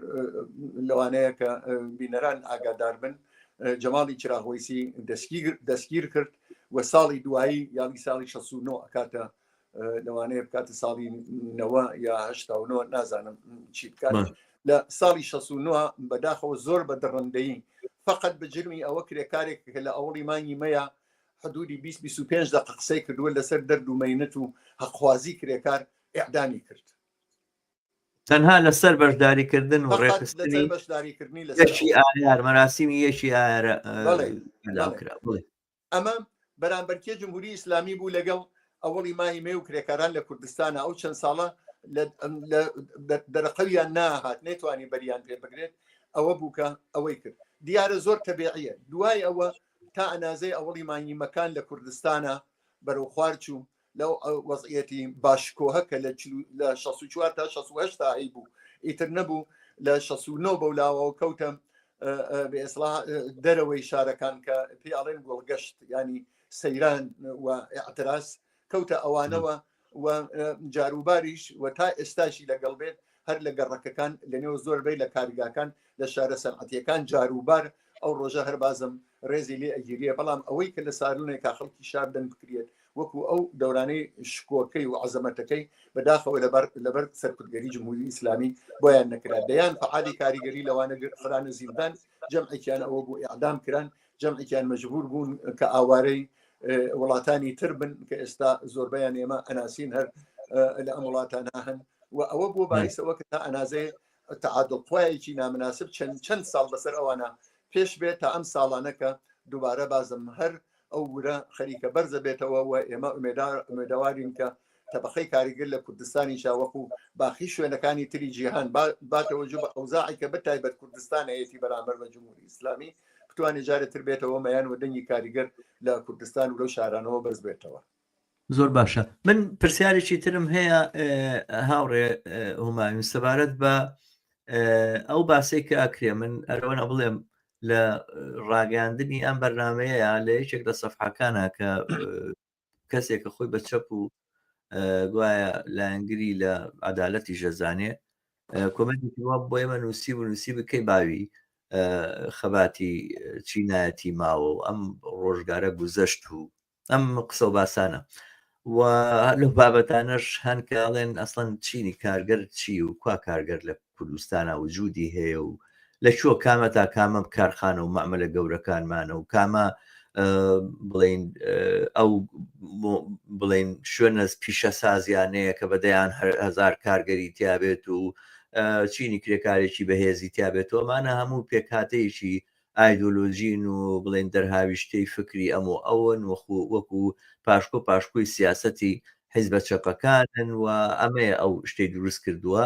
لەوانەیە کە بینەران ئاگادار بن جەماڵی چراغۆیسی دەستگیر کرد و ساڵی دوایی یاڵی ساڵی 16 ئەکاتە لەوانەیە بکاتە ساڵی نەوە یا هشتا و نازانم چی بکات لە ساڵی 16 بەداخەوە زۆر بە دڕندەی فقط بە جرمی ئەوە کرێکارێک کە لە ئەوڵی مانگی مەیە حدودی 25 دق قسەی کردووە لەسەر دەرد و مەینەت و هەقوازی کرێکار ئعدامی کرد تەنها لەسەر بەشداریکردن و ڕێخستنی بەشداریکردنی لەشی ئایار مەراسیمی یەکی ئارە کرا ئەمە بەرامبەرکێ جمهوری ئیسلامی بوو لەگەڵ ئەوەڵی مای مێ و کرێکاران لە کوردستانە ئەو چەند ساڵە دەرقەویان ناهات نەیتوانی بەریان پێ بگرێت ئەوە بووکە ئەوەی کرد دیارە زۆر تەبیعە دوای ئەوە تا ئەنازەی ئەوڵی مانگیمەکان لە کوردستانە بەرەو خوارچوو لەو وەزعەتی باشکۆهە کە لە لە 64 تا 16 تا هەی بوو ئیتر نەبوو لە 69 بەولاوەوە کەوتم بە ئێسلا دەرەوەی شارەکان کە پێی ئاڵێن گۆڵگەشت ینی سەیران و ئەتراس کەوتە ئەوانەوە و جاروباریش و تا ئێستاشی لەگەڵ بێت هەر لە گەڕەکەکان لە نێو زۆر بەی لە کارگاکان لە شارە سەرعەتیەکان جاروبار ئەو ڕۆژە هەر بازم ڕێزی لێ ئەگیریە بەڵام ئەوەی کە لە سارونێک کا خەڵکی شار دەنگ بکرێت وەکو ئەو دەورانەی شکۆکەی و عزەمەتەکەی بەداخەوە لەبەر لەبەر سەرکردگەری جمهوری ئیسلامی بۆیان نەکرا دەیان فعالی کاریگەری لەوانە خرانە زیندان جەمعێکیان ئەوە بۆ ئەعدام کران جەمعێکیان مەجبور بوون کە ئاوارەی وڵاتانی تر بن کە ئێستا زۆربیان ئێمە ئەناسین هەر لە ئەم وڵاتانە هەن و ئەوە بۆ بایسەوە کە تا ئەنازێ تعادڵخوایەکی نامناسب چەند چەند ساڵ بەسەر ئەوانە پێش بێت تا ئەم ساڵانەکە دووبارە بازم هەر ئەو ورە خەریکە بەرزە بێتەوە و ئێمە ئومێداوارین کە تەبەقەی کاریگر لە کوردستانیشا وەکو باقی شوێنەکانی تری جیهان باتەوە جوو بە ئەوزاعی کە بە تایبەت کوردستان هەیەی بەرامبەر بە جمهوری ئیسلامی بتوانێت جارێ تر بێتەوە مەیان و دەنگی کاریگەر لە کوردستان و لەو شارانەوە بەرز بێتەوە زۆر باشە من پرسیارێکی ترم هەیە هاوڕێ هوماویم سەبارەت بە ئەو باسێک کە ئەکرێ من ئەرەوەە بڵێم لە ڕاگەاندنی ئەم بەرنمەیە لە یەکێک لە سەفحەکانە کە کەسێک کە خۆی بە چەپ و گوایە لایەنگری لە عدالەتی ژەزانێ کۆمەنتی بۆ ئێمە نووسی و نووسی بکەی باوی خەباتی چینایەتی ماوە و ئەم ڕۆژگارە گوزەشت و ئەم قسە و باسانە و لە بابەتانەش هەن کاڵێن ئەسڵەن چینی کارگەر چی و کوا کارگەر لە کوردستانە وجودی هەیە و لە چۆ کامە تا کامە کارخانە و مەعملە گەورەکانمانە و کامە بڵین ئەو بڵین شوێنە پیشە سازیانەیە کە بەدەیان هزار کارگەری تیاابێت و چینی کرێکارێکی بەهێزی تیاابێتەوەمانە هەموو پێکاتەیەکی ئایدۆلۆژین و بڵێین دەرهاویشتەی فکری ئەم و ئەون وەخو وەکو پاشکۆ پاشکۆی سیاسەتی حیزبە چەپەکانن و ئەمەیە ئەو شتەی دروست کردووە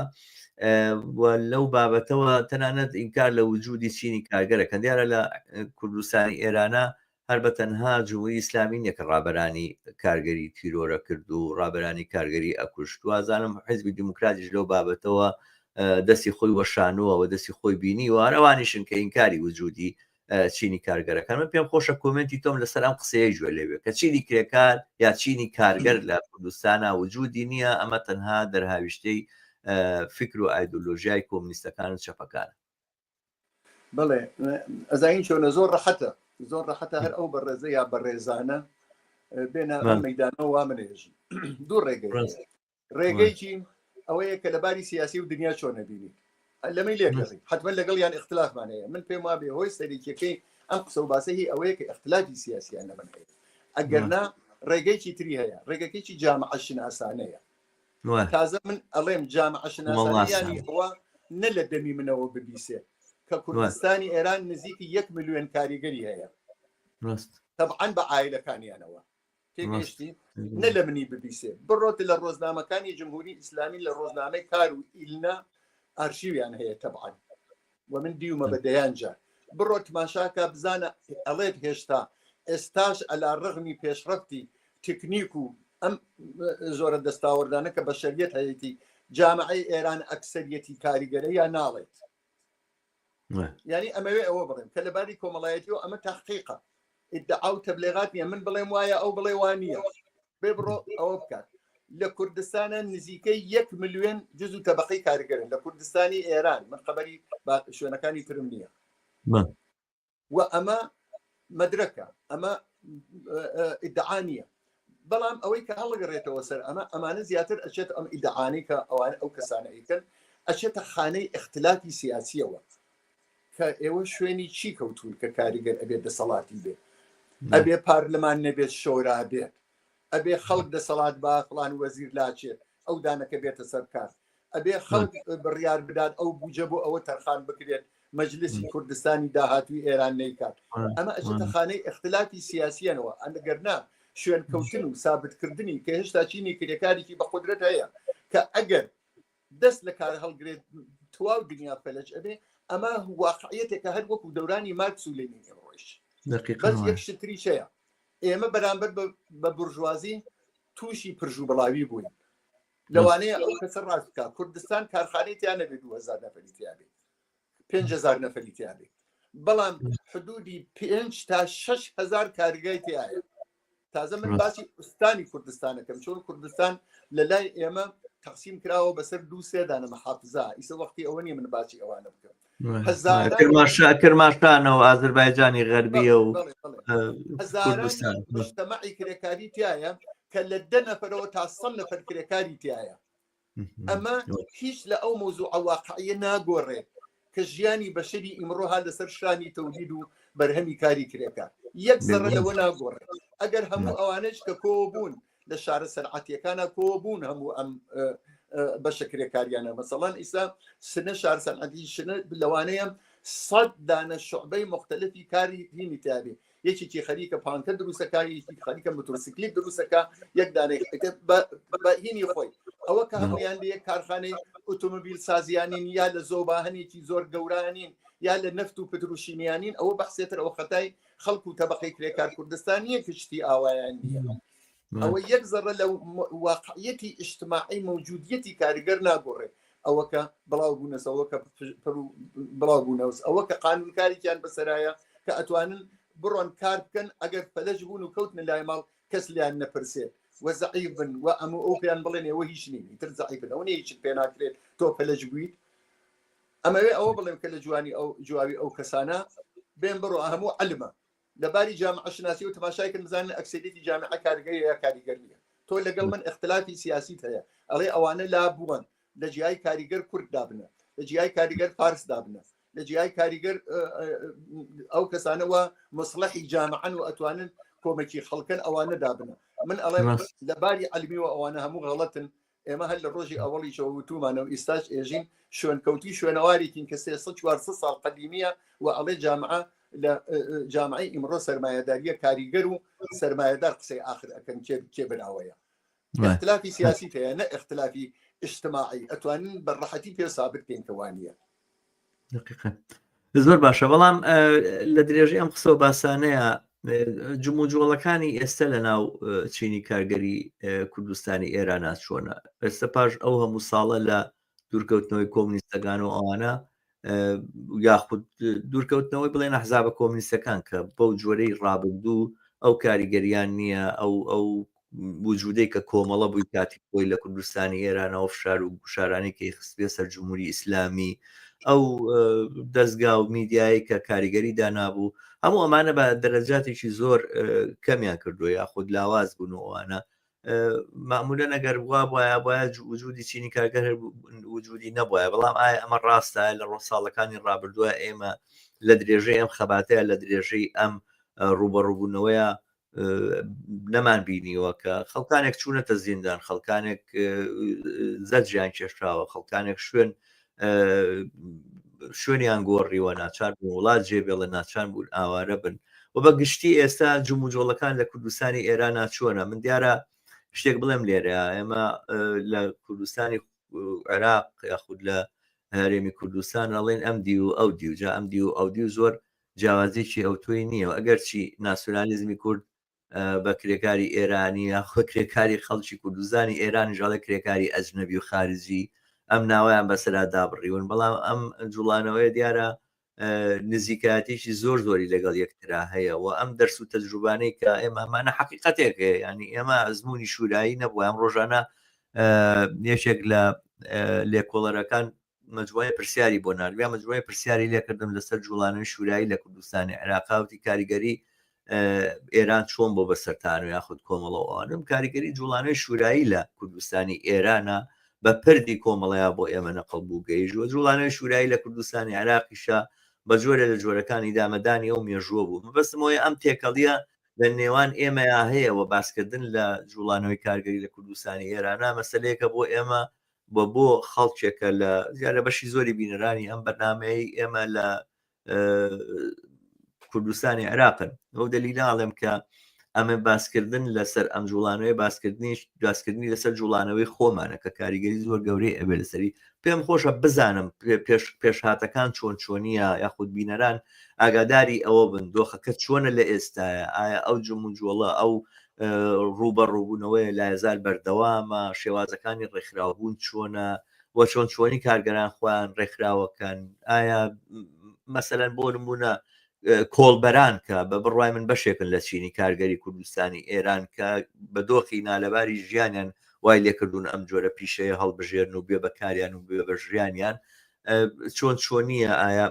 و لەو بابەتەوە تەنانەت ئینکار لە وجودی چینی کارگەرەکەن دیارە لە کوردستانی ئێرانە هەر بە تەنها جمهوری ئیسلامی نیە کە ڕابەرانی کارگەری تیرۆرە کرد و ڕابەرانی کارگەری ئەکوشت وازانم حیزبی دیموکراتیش لەو بابەتەوە دەستی خۆی وەشانووە و دەستی خۆی بینی و هەرەوانیشن کە ئینکاری وجودی چینی کارگەرەکان من پێم خۆشە کۆمنتی تۆم لەسەر ئەم قسەیە گوێ لێوێ کە چینی کرێکار یا چینی کارگەر لە کوردستانە وجودی نییە ئەمە تەنها دەرهاویشتەی فکر و ئایدۆلۆژیای کۆمنیستەکان و چەپەکان بڵێ ئەزین چۆنە زۆر ڕەحەتە زۆر ڕەحەتە هەر ئەو بەڕێزە یا بەڕێزانە بێنە مەدانەوە وا منێژن دوو ڕێگەی ڕێگەیکی ئەوەیە کە لەباری سیاسی و دنیا چۆنە بینی لەمەی لێ حتممە لەگەڵ یان اختلافمان هەیە من پێم وابێ هۆی سەرێکیەکەی ئەم قسە و باسە هی ئەوەیە کە اختلافی سیاسیان لەمن هەیە ئەگەرنا ڕێگەیکی تری هەیە ڕێگەکەیکی جامعە شناسانەیە تازە من ئەڵێم جامعە شناسەکانی ئەوە نە لە دەمی منەوە ببیسێ کە کوردستانی ئێران نزیکی یەک ملیۆن کاریگەری هەیە تەبعاان بە ئایلەکانیانەوە تێگەشتی نە لە منی ببیسێ بڕۆت لە ڕۆژنامەکانی جمهوری ئیسلامی لە ڕۆژنامەی کار و ئیلنا ئارشیویان هەیە تەبعاان و من دیومە بە دەیان جار بڕۆ تماشاکە بزانە ئەڵێت هێشتا ئێستاش ئەلا ڕغمی پێشڕەتی تکنیک و ئەم زۆرە دەستاوەردانە کە بەشەریت هەیەی جامعی ئێران ئەکسەرەتی کاریگەرە یا ناڵێت ینی ئەمەوێ ئەوە بڵێم کە لەباری کۆمەڵایەتی و ئەمە تاقیقە ئیدعا و تەبلێغات نیە من بڵێم وایە ئەو بڵێ وانە بێ بڕۆ ئەوە بکات لە کوردستانە نزیکەی یەک ملیۆن جز و تەبقی کارگەرن لە کوردستانی ئێران من خبری شوێنەکانی ترم نییە و ئەمە مدرکە ئەمە ئیدعاانیە بەڵام ئەوەی کە هەڵگەڕێتەوە سەر ئەمە ئەمانە زیاتر ئەچێت ئەم ئیدعاانی کە ئەوان ئەو کەسانە ئەیکەن ئەچێتە خانەی اختلافی سیاسیەوە کە ئێوە شوێنی چی کەوتون کە کاریگەر ئەبێت دەسەڵاتی بێت ئەبێ پارلمان نەبێت شۆرا بێت ئەبێ خەڵک دەسەڵات با فلان وەزیر لاچێت ئەو دانەکە بێتە سەر کار ئەبێ خەڵک بڕیار بدات ئەو بجە بۆ ئەوە تەرخان بکرێت مەجلسی کوردستانی داهاتوی ئێران نیکات ئەمە ئەجتە خانەی اختلافی سیاسیەنەوە ئەگەرنا شوێنکەوتن و سابتکردنی کە هێشتا چینی کرێکارێکی بە قدرەت هەیە کە ئەگەر دەست لە کار هەڵگرێت تواو دنیا فەلج ئەبێ ئەمە واقعەتێکە هەر وەکو دەورانی ماکس و لێنین ئێمڕۆیش بەس یەک شتری چەیە ئێمە بەرامبەر بە برژوازی تووشی پرژ و بڵاوی بووین لەوانەیە ئەو کەسە ڕاست بکە کوردستان کارخانێتیان نەبێت دوهزار نەفەریتیابێت پێهزار نەفەریتیابێت بەڵام حدودی پێ تا 6هزار کارگای تایە تازە من باسی ئوستانی کوردستانەکەم چۆن کوردستان لە لای ئێمە تەقسیم کراوە بەسەر دوو سێدانە مەحافزا ئیسە وەختی ئەوە نیە من باسی ئەوانە بکەم کرماشتانە و ئازربایجانی غەربیە و هەزارمەی کرێکاری تایە کە لە دە نەفرەوە تا سە نەفر کرێکاری تایە ئەمە هیچ لە ئەو مۆزوع واقعە ناگۆڕێت کە ژیانی بەشری ئیمڕۆها لەسەر شانی تەولید و بەرهەمی کاری کرێکە یەک زەڕە لەوە ناگۆڕێت ئەگەر هەموو ئەوانش کە کۆ بوون لە شارە سەرعاتیەکانە کۆ بوون هەموو ئەم بەشە کرێکاریانە مەسەڵەن ئیسا سنە شار سەنعەتی شنە لەوانەیە سەد دانە شعبەی مختلفی کاری دینی تابێ یەکێکی خەریکە پانکە دروستەکە یەکی خەریکە مترسیکلی دروستەکە یەک دانێک بەهینی خۆی ئەوە کە هەمویان لە یەک کارخانەی ئۆتۆمبیل سازیانین یا لە زۆباهنێکی زۆر گەورانین یا لە نەفت و پتروشیمیانین ئەوە بەحسێتر ئەو خەتای خەڵکو و تەبقی کرێکار کوردستان یەک شتی ئاوایان نیە ئەوە یەک زەڕە لە واقعەتی ئیشتماعی مەوجودیەتی کاریگەر ناگۆڕێت ئەوە کە بڵاو بوونەسەوە کە بڵاو بوونەوەس ئەوە کە قانونکاریان بەسەرایە کە ئەتوانن بڕۆن کار بکەن ئەگەر پەلەش بوون و کەوتن لای ماڵ کەس لیان نەپرسێت وەزعی بن و ئەم ئەو پێیان بڵێن ئەوە هیچ نینی تر زعی بن ئەو هیچ پێ ناکرێت تۆ پەلەج بوویت ئەمەوێ ئەوە بڵێم کە لە جوانی ئەو جوابی ئەو کەسانە بێن بڕۆ هەموو علمە لە باری جامعە شناسیەوە تەماشای کەن بزانن ئەکسریتی جامعە کارگەی یا کاریگەر نیە تۆ لەگەڵ من اختلافی سیاسی هەیە ئەڵێ ئەوانە لا بووەن لە جیای کاریگەر کورد دابنە لە جیای کاریگەر فارس دابنە لە جیای کاریگەر ئەو کەسانەوە مسلحی جامعەن و ئەتوانن کۆمەکی خەڵکن ئەوانە دابنە من ئەڵێ لە باری علمی و ئەوانە هەموو غەڵەتن ئێمە هەر لە ڕۆژی ئەوەڵیشەوە وتومانە و ئیستاش ئێژین شوێنکەوتی شوێنەوارێکین کە سێ چوار ساڵ قەدیمیە و ئەڵێ جامعە لە جامعی ئیمڕۆ سرمایهداریە کاریگەر و سرمایهدار قسەی آخر ئەەکەن کێ براوەیە اختلافی سیاسی هەیە نە اختلافی اجتماعی ئەتوانین بە ڕەحەتی پێ سابت پێین کەوانە زۆر باشە بەڵام لە درێژەی ئەم قسەوە باسانەیە جمو و جۆڵەکانی ئێستا لە ناو چینی کارگەری کوردستانی ئێران ناچۆنە ئێستا پاش ئەو هەموو ساڵە لە دوورکەوتنەوەی کۆمنیستەکان و ئەوانە یاخود دوورکەوتنەوەی بڵێن حزابە کۆمنیستەکان کە بەو جۆرەی ڕابردوو ئەو کاریگەریان نییە ئەو ئەو وجودەی کە کۆمەڵە بووی کاتی خۆی لە کوردستانی ئێرانەوە فشار و گوشارانێکی خستبێ سەر جمهوری ئیسلامی ئەو دەستگا و میدیایی کە کاریگەری دانابوو هەموو ئەمانە بە دەرەجاتێکی زۆر کەمیان کردو یا خود لاواز بوون و ئەوانە معمولە نەگەر بووە بواە باە وجودی چینی کارگەر وجودی نەبواە بەڵام ئایا ئەمە ڕاستە لە ڕۆ ساڵەکانی ڕابردووە ئێمە لە درێژەی ئەم خەباتەیە لە درێژەی ئەم ڕوبەڕوبوونەوەیە نەمان بینیوە کە خەڵکانێک چوونەتە زیندان خەڵکانێک زەجیان کێشراوە خەڵکانێک شوێن شوێنیان گۆڕیوە ناچار بوو وڵات جێ بێڵە ناچان بوون ئاوارە بن و بە گشتی ئێستا جموجۆڵەکان لە کوردستانی ئێران ناچووەە من دیارە شتێک بڵێم لێرە ئێمە لە کوردستانی عێراق یاخود لە هەرێمی کوردستان ئەڵێن ئەم دی و ئەو دیوجا ئەم دی و ئەو دی و زۆر جیاوازیەکی ئەوتۆی نییە و ئەگەرچی ناسیۆنالیزمی کورد بە کرێکاری ئێرانی یاخۆ کرێکاری خەڵکی کوردستانی ئێرانیش ئەڵێ کرێکاری ئەجنەبی و خارجی ئەم ناویان بەسەرا دابڕیون بەڵام ئەم جوڵانەوەی دیارە نزیکاتێکی زۆر زۆری لەگەڵ یەکترا هەیە و ئەم دەرس و تەجروبانەی کە ئێمە ئەمانە حقیقەتێک هەیە ینی ئێمە ئەزمموی شورایی نەبووە ئەم ڕۆژانە یەکێک لە لێکۆڵەرەکان مجموعەی پرسیاری بۆ ناردم یا مجموعەی پرسیاری لێکردم لەسەر جوڵانەوەی شورایی لە کوردستانی عێراقا وتی کاریگەری ئێران چۆن بۆ بەسەرتان و یاخود کۆمەڵەوەوانم کاریگەری جوڵانەوەی شورایی لە کوردستانی ئێرانە بە پردی کۆمەڵەیە بۆ ئێمە نەقل بوو گەیژوە جوڵانەوەی شورایی لە کوردستانی عراقیشە بە جۆرە لە جۆرەکانی دامەدانی ئەو مێژووە بوو مەبەستمەوەی ئەم تێکەڵیە لە نێوان ئێمەیا هەیەەوە باسکردن لە جوڵانەوەی کارگەری لە کوردستانی ئێرانە مەسلەیەکە بۆ ئێمە و بۆ خەڵکێکە لە زیاد لە بەشی زۆری بینەرانی ئەم بەرنمەی ئێمە لە کوردستانی عێراقن ئەو دەلیلاڵێم کە ئەمە باسکردن لەسەر ئەم جوڵانەوەی باسکردنیش داسکردنی لەسەر جوڵانەوەی خۆمانە کە کاریگەری زۆر گەورەی ئەبێ لەسەری پێم خۆشە بزانم پێشهاتەکان چۆن چۆنیە یاخود بینەران ئاگاداری ئەوە بن دۆخەکە چۆنە لە ئێستاە ئایا ئەو جموجۆڵە ئەو ڕووبەڕووبوونەوەیە لایەزال بەردەوامە، شێوازەکانی ڕێکخراوبوون چۆنە و چۆن چۆنی کارگەران خۆیان ڕێکخراوەکەن، ئایا مەسەلەن بۆ نمونە کۆڵبەران کە بە بڕوای من بەشێکن لە چینی کارگەری کوردستانی ئێران کە بە دۆخی نالەباری ژیانیان وای لێکردون ئەم جۆرە پیشەیە هەڵبژێرن و بێ بەکاریان و بێ بە ژیانیان چۆن چۆنیە ئایا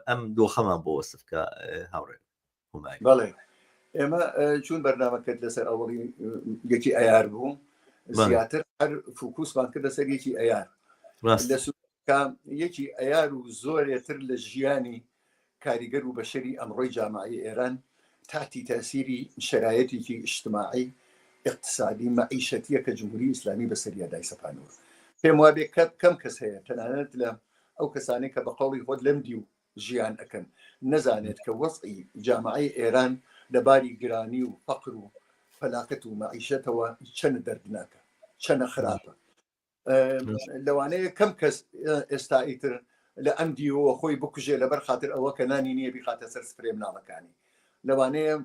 ئەم دۆخەمان بۆ وەسفکە هاوڕێن هومانی. بەڵێ ئێمە چوون بەرنامەکەت لەسەر ئەوڵی یەکی ئەیار بوو زیاتر هەر فوکوسمان کردە سەر یەکی ئەیار یەکی ئەیار و زۆرێتر لە ژیانی کاریگەر و بەشەری ئەمڕۆی جامعی ئێران تاتی تاسیری شرایەتێکی ئیشتماعی اقتصادی مەعیشەتیە کە جمهوری ئیسلامی بەسەریا دای سەپانەوە پێم وابێ کەم کەس هەیە تەنانەت لە ئەو کەسانی کە بە قوڵی خۆت لەم دی و ژیان ئەکەن نەزانێت کە وەزعی جامعەی ئێران لەباری گرانی و فەقر و فەلاکەت و مەعیشەتەوە چەنە دەردناکە چەنە خراپە لەوانەیە کەم کەس ئێستا ئیتر لە ئەم دیوەوە خۆی بکوژێ لەبەر خاطر ئەوە کە نانی نییە بخاتە سەر سپرێ مناڵەکانی لەوانەیە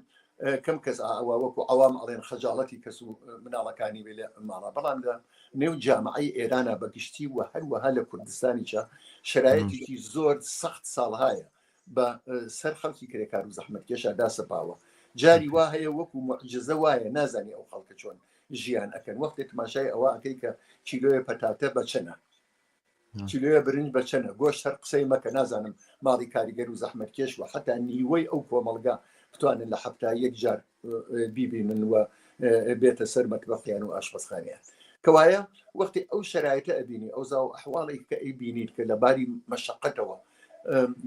کەم کەس ئاوا وەکو عوام ئەڵێن خەجاڵەتی کەس و مناڵەکانی بێ لە ماڵە بەڵام لە نێو جامعی ئێرانە بەگشتی و هەروەها لە کوردستانیشە شرایەتێکی زۆر سەخت ساڵهایە بە سەر خەڵکی کرێکار و زەحمت کێشا داسەپاوە جاری وا هەیە وەکو معجززە وایە نازانانی ئەو خەڵکە چۆن ژیان ئەەکەن وەختێک تماشای ئەوە ئەەکەی کە کیلۆیە پەتاتە بەچەنە کیلۆیە برنج بە چەنە گۆش هەر قسەی مەکە نازانم ماڵی کاریگەر و زەحمت کێش و حتا نیوەی ئەو کۆمەڵگا بتوانن لە هەفتا یەک جار بیبینن وە بێتە سەر مەتبەقییان و ئاشپەسخانیان کەوایە وەختی ئەو شرایتە ئەبینی ئەو زاو ئەحواڵی کە ئەی بینیت کە لە باری مەشقەتەوە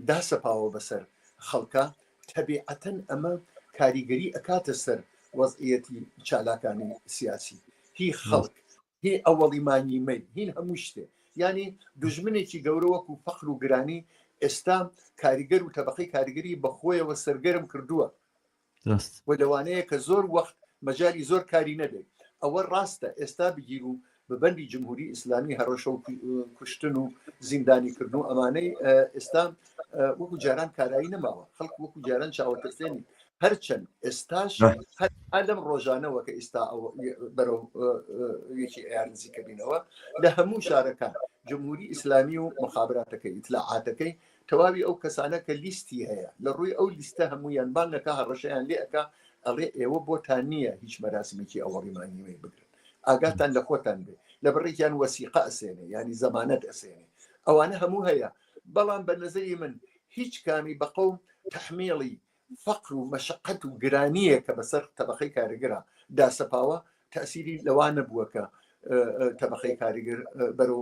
داسەپاوە بەسەر خەڵکە تەبیعەتەن ئەمە کاریگەری ئەکاتە سەر وەزعەتی چالاکانی سیاسی هی خەڵک هی ئەوەڵی مانگی مەی هین هەموو شتێ ینی دژمنێکی گەورە وەکو فەخر و گرانی ئێستا کاریگەر و تەبقی کاریگەری بەخۆیەوە سەرگەرم کردووە و لەوانەیە کە زۆر وەخت مەجای زۆر کاری نەبێت ئەوە ڕاستە ئێستا بگیر و بەبندی جمهوری ئیسلامی هەڕەشە و کوشتن و زیندانی کردن و ئەمانەی ئێستا وەکو جاران کارایی نەماوە خەڵک وەکو جاران چاوەتەسێنی هەرچەند ئێستاش ئەلم ڕۆژانەوە کە ئیستا بەرەو یەکی ئەیار نزیکە بینەوە لە هەموو شارەکان جمهوری ئیسلامی و مخابراتەکەی ئیتلاعاتەکەی تەواوی ئەو کەسانە کە لیستی هەیە لە ڕووی ئەو لیستە هەمویان بانگەکە هەڕەشەیان لێەکە ئەڵێ ئێوە بۆتان نییە هیچ مەراسمێکی ئەوەڕیمانیوەی بگرن ئاگاتان لە خۆتان بێ لە بڕێکیان وەسیقا ئەسێنێ ینی زەمانەت ئەسێنێ ئەوانە هەموو هەیە بەڵام بە نەزەری من هیچ کامی بە قوم تحمیڵی فەقر و مەشقەت و گرانیە کە بەسەر تەبقەی کارگرا داسەپاوە تاسیری لەوا نەبووە کە تەبقەی کاریگەر بەرەو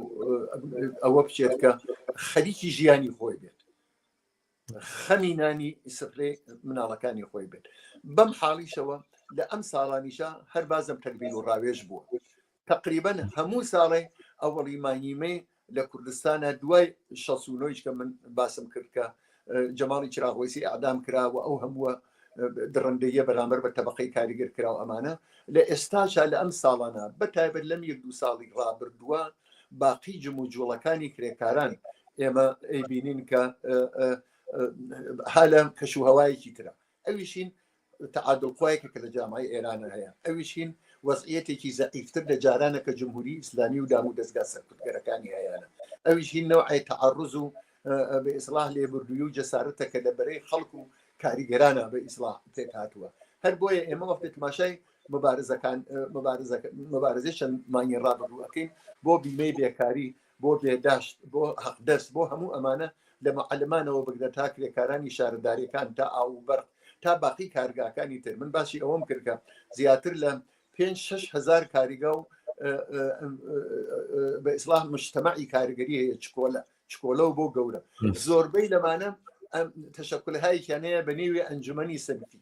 ئەوە بچێت کە خەریکی ژیانی خۆی بێت خەمینانی سفرێ مناڵەکانی خۆی بێت بەم حاڵیشەوە لە ئەم ساڵانیشە هەر بازم تەلبیل و ڕاوێژ بووە تقریبن هەموو ساڵێ ئەوەڵی مانیمەی لە کوردستانە دوای شەسونۆیش کە من باسم کرد کە جەماڵی چراغۆسی ئادام کرا و ئەو هەمووە دڕندەیە بەرامبەر بە تەبقەی کاریگەر کرا و ئەمانە لە ئێستاشا لە ئەم ساڵانە بەتایبەت لەم یەک دو ساڵی ڕابردووە باقی جم و جوڵەکانی کرێکاران ئێمە ئەیبینین کە هالە کەش و هەوایەکی ترە ئەویش هین تعادل خوایەکە کە لە جامعەی ئێرانە هەیە ئەویش هین وەزعیەتێکی زەعیفتر لە جارانە کە جمهوری ئیسلامی و دام و دەستگا سەرکردگەرەکانی هەیەە ئەویش هین نەوعی تعرز و بە ئیسلاح لێبردووی و جەسارەتە کە لە بەرەی خەڵک و کاریگەرانە بە ئیسلاح تێک هاتووە هەر بۆیە ئێمە وەختێک ماشای مبارزەکان مبارزەکە مبارزەی چەند مانگی ڕابردووەکەین بۆ بیمەی بێکاری بۆ بێداشت، بۆ هەقدەست، بۆ هەموو ئەمانە، لە معەلمانەوە بگرە تا کرێکارانی شارەدارەکان، تا ئاو و بەرق، تا باقی کارگاکانی تر. من باسی ئەوەم کرد کە زیاتر لە پێنج شەش هەزار کاریگا و بە ئیسلام مشتەمەعی کاریگەری هەیە چکۆلە چکۆلە و بۆ گەورە زۆربەی لەمانە تەشەکلهایکیانەیە بە نێوی ئەنجومی سەرفی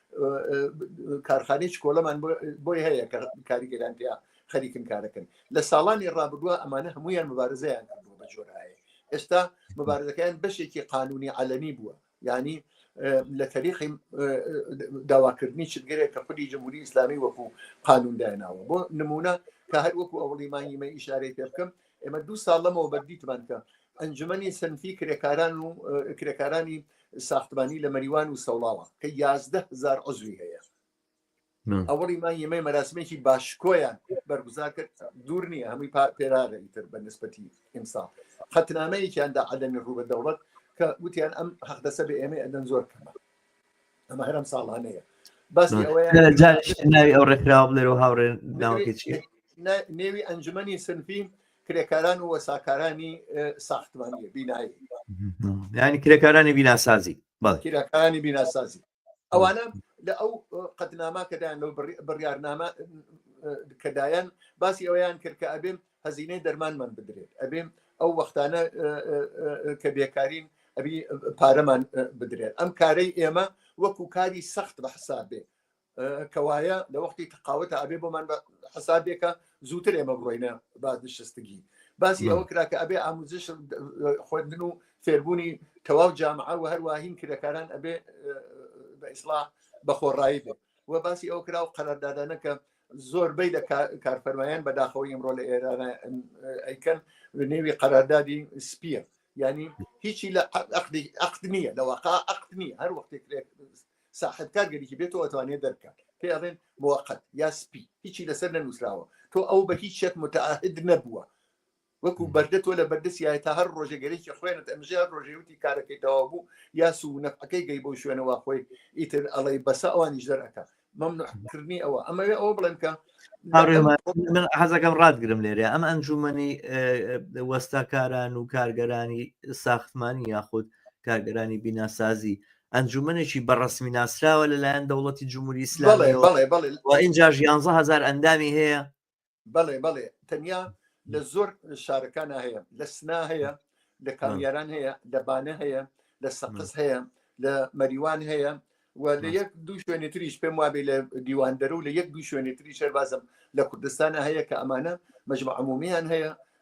کارخانەی چکۆلەمان بۆی هەیە کە کاریگەران پێیا خەریکن کارەکەن لە ساڵانی ڕابردووە ئەمانە هەمویان مبارزەیان کردووە بە جۆرایە ئێستا مبارزەکەیان بەشێکی قانونی عەلەنی بووە ینی لە تەریقی داواکردنی چگرێک کە خودی جمهوری ئیسلامی وەکو قانونداناوە بۆ نمونە کە هەر وەکو ئەوڵی مانگیمە ئیشارەی پێ بکەم ئێمە دوو ساڵ لەمەوە بەردیتمان کە ئەنجومەنی سنفی کرێکاران و کرێکارانی ساختمانی لە مەریوان و سەوڵاوە کە یازدە هزار عزوی هەیە ئەوەڵی مای یمەی مەراسمێکی باشکۆیان بەرگوزار کرد دوور نییە هەمووی پێرارە ئیتر بە نسبەتی ئیمساڵ خەتنامەیەکیاندا عەدەمی ڕوو بە دەوڵەت کە وتیان ئەم حەقدەسە بە ئێمە ئەدەن زۆر کەمە ئەمە هەرم ساڵانەیە باسی ئەوەیە ناوی ئەو ڕێکراوە بڵێرەوە هاوڕێن ناوەکەی چی نێوی ئەنجومەنی سنفی کرێکاران و وەساکارانی ساختمانی بینایی ینی کرێکارانی بیناسازی کرێکارانی بیناسازی ئەوانە لە ئەو قەتنامە کەدایان لەو بڕیارنامە کەدایەن باسی ئەویان کرد کە ئەبێم هەزینەی دەرمانمان بدرێت ئەبێم ئەو وەختانە کە بێکارین ئەبی پارەمان بدرێت ئەم کارەی ئێمە وەکو کاری سەخت بە حساب بێ کەوایە لە وەختی تەقاوەتە ئەبێ بۆمان حسابێکە زووتر ئێمە بڕۆینە بازنشستگی باسی ئەوە کرا کە ئەبێ ئاموزش خوێندن و فێربوونی تەواو جامعە و هەروواهین کرێکاران ئەبێ بە ئیسلا بە خۆڕایی بێت و باسی ئەو کرا و قەراردادانە کە زۆربەی لە کارفەرمایان بەداخەوە ئمڕۆ لە ئێران ئەیکەن نێوی قەراردادی سپیە ینی هیچی لە عقد نییە لە واقع عقد نییە هەر وەختێک ساحێب کار گەریکی بێت تۆ ئەتوانێت دەرکات پێ ئەڵێن موقت یا سپی هیچی لەسەر نەنووسراوە تۆ ئەو بە هیچ شێک متعاهد نەبووە وەکو بەردە تۆ لە بەردەسیایە تا هەر ڕۆژێگەرێکی خوێنت ئەمژە ڕۆژێوتی کارەکەی تەوا بوو یا سوو نەفەکەی گەی بۆ شوێنەوە خۆی ئیتر ئەڵەی بەسە ئەوانیش دەرەکە مەمنوحکردنی ئەوە ئەمەوێ ئەوە بڵێن کە من حەزەکەم ڕاتگرم لێرە ئەم ئەنجومنی وەستاکاران و کارگەرانی ساختمانی یاخود کارگەرانی بیناسازی ئەنجومەنێکی بە ڕەسمی ناسراوە لەلایەن دەوڵەتی جمهوری ئیسلامی و ئینجاش یانزە هزار ئەندامی هەیە بەڵێ بەڵێ تەنیا لە زۆر شارەکان هەیە لە سنا هەیە لە کامیاران هەیە لە بانە هەیە لە سەقز هەیە لە مەریوان هەیە و لە یەک دوو شوێنی تریش پێم وابێ لە دیواندەرە و لە یەک دوو شوێنی تری شەربازم لە کوردستانە هەیە کە ئەمانە مەجمع عمومیان هەیە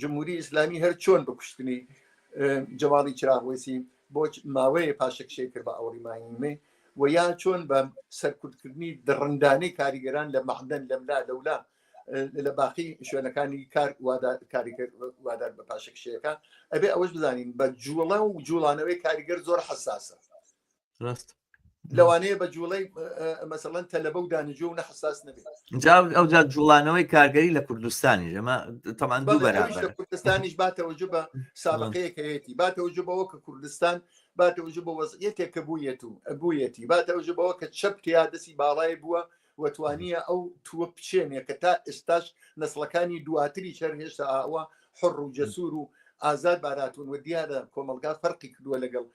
جمهوری ئیسلامی هەر چۆن بکوشتنی جەماڵی چراغوەسی بۆ ماوەیە پاشەکشەی کرد بە ئەوڕی ماینمێ و یا چۆن بە سەرکوتکردنی دڕندانەی کاریگەران لە مەعدەن لەملا لەولا لە باقی شوێنەکانی کار کاریگەر وادار بە پاشەکشەکە ئەبێ ئەوەش بزانین بە جوڵە و جوڵانەوەی کاریگەر زۆر حساسە ڕاست لەوانەیە بە جوڵەی مەسەڵەن تەلەبە و دانیجو و نەحساس نەبێت ئەو جا جوڵانەوەی کارگەری لە کوردستانی ژەمە تەمان دوو بەرابەر کوردستانیش باتەوەجو بە ساڵقەیەک هەیەی باتەوەجو بەوە کە کوردستان باتەوەجو بە وەزیەتێک کە بوویەت و بوویەتی باتەوەجو بەوە کە چەپ تیا دەسی باڵای بووە وەتوانیە ئەو تووە بچێنێ کە تا ئێستاش نسلەکانی دواتری چەر هێشتا ئاوە حڕ و جەسوور و ئازاد باراتون و دیارە کۆمەلگا فەرقی کردووە لەگەڵ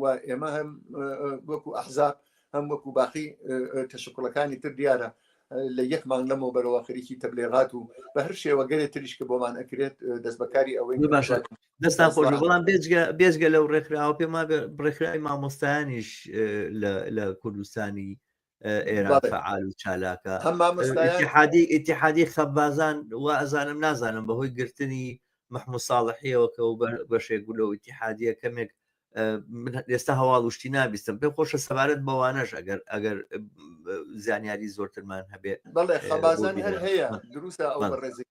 و ئێمە هەم وەکو ئەحزاب هەم وەکو باقی تەشکڵەکانی تر دیارە لە یەک مانگ لەمەوە بەرەوە خەریکی تەبلێغات و بە هەر شێوە گەرێ تریش کە بۆمان ئەکرێت دەست بەکاری ئەوەی باشە دەستان خۆش بەڵام بێجگە بێجگە لەو ڕێکخراوە پێما ڕێکخراوی مامۆستایانیش لە کوردستانی ئێران فعال و چالاکە ئتیحادی خەبازان و ئەزانم نازانم بەهۆی گرتنی مححمود ساڵحیەوە کە و بەشێک گولە و ئتیحادیە کەمێک ئێستا هەواڵ وشتی نابیستم پێ خۆشە سەبارەت بەوانەش ئەگەر ئەگەر زانیاری زۆرترمان هەبێت بەڵێ خەبازان هەر هەیە دروستە ئەو بەڕێزی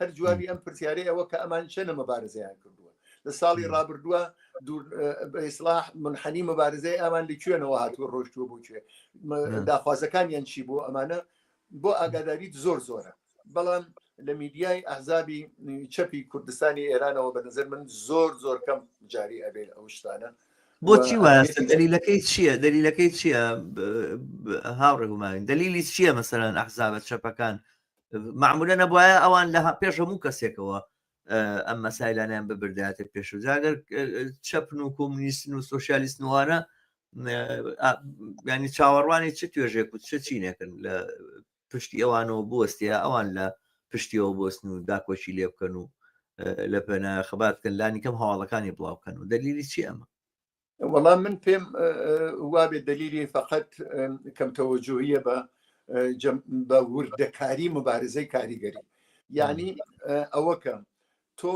هەر جوابی ئەم پرسیارەی ئەوە کە ئەمان چەنە مەبارزەیان کردووە لە ساڵی ڕابردووە ئیسلاح منحنی مەبارزەی ئەمان لە کوێنەوە هاتووە ڕۆشتووە بۆ کوێ داخوازەکانیان چی بۆ ئەمانە بۆ ئاگاداریت زۆر زۆرە بەڵام لە میدیای ئەحزابی چەپی کوردستانی ئێرانەوە بە نظر من زۆر زۆر کەم جاری ئەبێت ئەو شتانە بۆچی وایە دەلیلەکەی چییە دەلیلەکەی چییە هاوڕێ هوماوین دەلیلی چییە مەسەران ئەحزابە چەپەکان معمولە نەبواە ئەوان لە پێش هەموو کەسێکەوە ئەم مەسایلانیان ببرداتە پێش و جاگەر چەپن و کۆمنیستن و سوسیالیست نوانە ینی چاوەڕوانی چ توێژێک و چ چینێکن لە پشتی ئەوانەوە بستە ئەوان لە پشتیەوە بستن و داکۆچی لێ بکەن و لە پێنا خەباتکەن لانی کەم هەواڵەکانی بڵاوکەن و دەلیلی چی ئەمە وەڵام من پێم وابێ دلیلی فقط کەم تەوەجوهیە بە بە وردەکاری مبارزەی کاریگەری یعنی ئەوەکە تۆ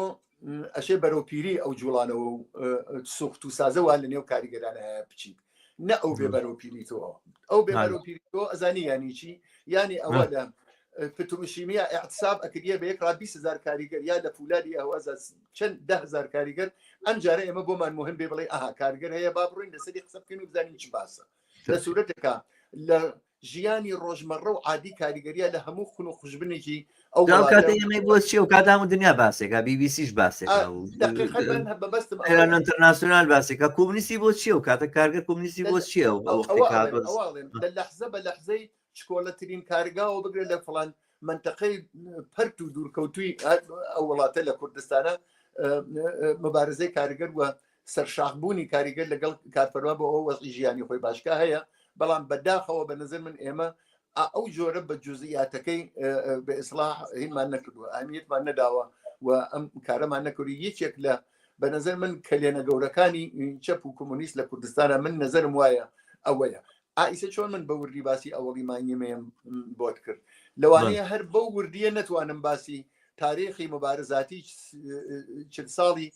ئەشێ بەرەو پیری ئەو جوڵانەوە و سوخت و سازەوە لە نێو کاریگەرانە هەیە بچیت نە ئەو بێ بەرەو پیری تۆ ئەو بێ بەرەو پیری تۆ ئەزانی یانی چی یانی ئەوە لە پتروشیمیا اعتصاب ئەکریە بە یەک ڕابی سزار کاریگەر یا لە فولادی ئەوەزە چەند دە هەزار کاریگەر ئەم جارە ئێمە بۆمان مهم بێ بڵێ ئاها کارگەر هەیە با بڕین لەسەری قسە بکەین و بزانین چی باسە لە سوورەتەکە لە ژیانی ڕۆژمەڕە و عادی کاریگەریە لە هەموو خون و خوشبنێکی ئەو کاتە ئێمەی بۆ چێ و کاتام و دنیا باسێکە بیبیسیش باسێکانتەرناسیۆنال باسێکە کومنیستی بۆ چیە و کاتە کارگە کومنیستی بۆ چیە و لە لەحزە بە لەحزەی چکۆڵەترین کارگاوە بگرێت لە فڵان منتەقەی پەرت و دوورکەوتوی ئەو وڵاتە لە کوردستانە مبارزەی کارگەر وە سەرشاخبوونی کاریگەر لەگەڵ کارفەرما بۆ ئەو وەزی ژیانی خۆی باشکە هەیە بەڵام بەداخەوە بە نظر من ئێمە ئەو جۆرە بە جزئیاتەکەی بە ئیسلاح هیمان نەکردووە ئەمیتمان نەداوە و ئەم کارەمان نەکردی یەکێک لە بە نظر من کەلێنە گەورەکانی چەپ و کۆمۆنیست لە کوردستانە من نظرم وایە ئەوەیە ئایسە چۆن من بە وردی باسی ئەوەڵی مانیمەیەم بۆت کرد لەوانەیە هەر بەو وردیە نتوانم باسی تاریخی مبارزاتی چل ساڵی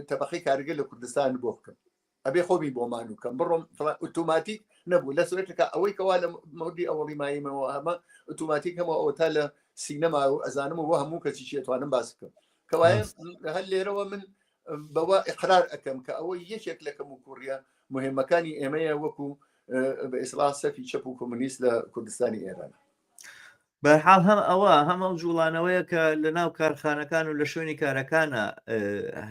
تەبقی کارگە لە کوردستان بۆ بکەم ئەبێ خۆمی بۆ مانوو کەم بڕۆم فڵان ئۆتۆماتیک نەبوو لە سوێتەکە ئەوەی کەوا لە مەودی ئەوەڵی مایمەوە هەمە ئۆتۆماتیک هەمە ئەوە تا لە سینەما و ئەزانم و هەموو کەسی چێتوانم باس بکەم کەوایە هەر لێرەوە من بەوە ئقرار ئەەکەم کە ئەوە یەکێک لە کەم و کوڕە مهمەکانی ئێمەیە وەکو بە ئیسلا سەفی چەپ و کۆمونیست لە کوردستانی ئێران بەرحاڵ هەم ئەوە هەم ئەو جوڵانەوەیە کە لە ناو کارخانەکان و لە شوێنی کارەکانە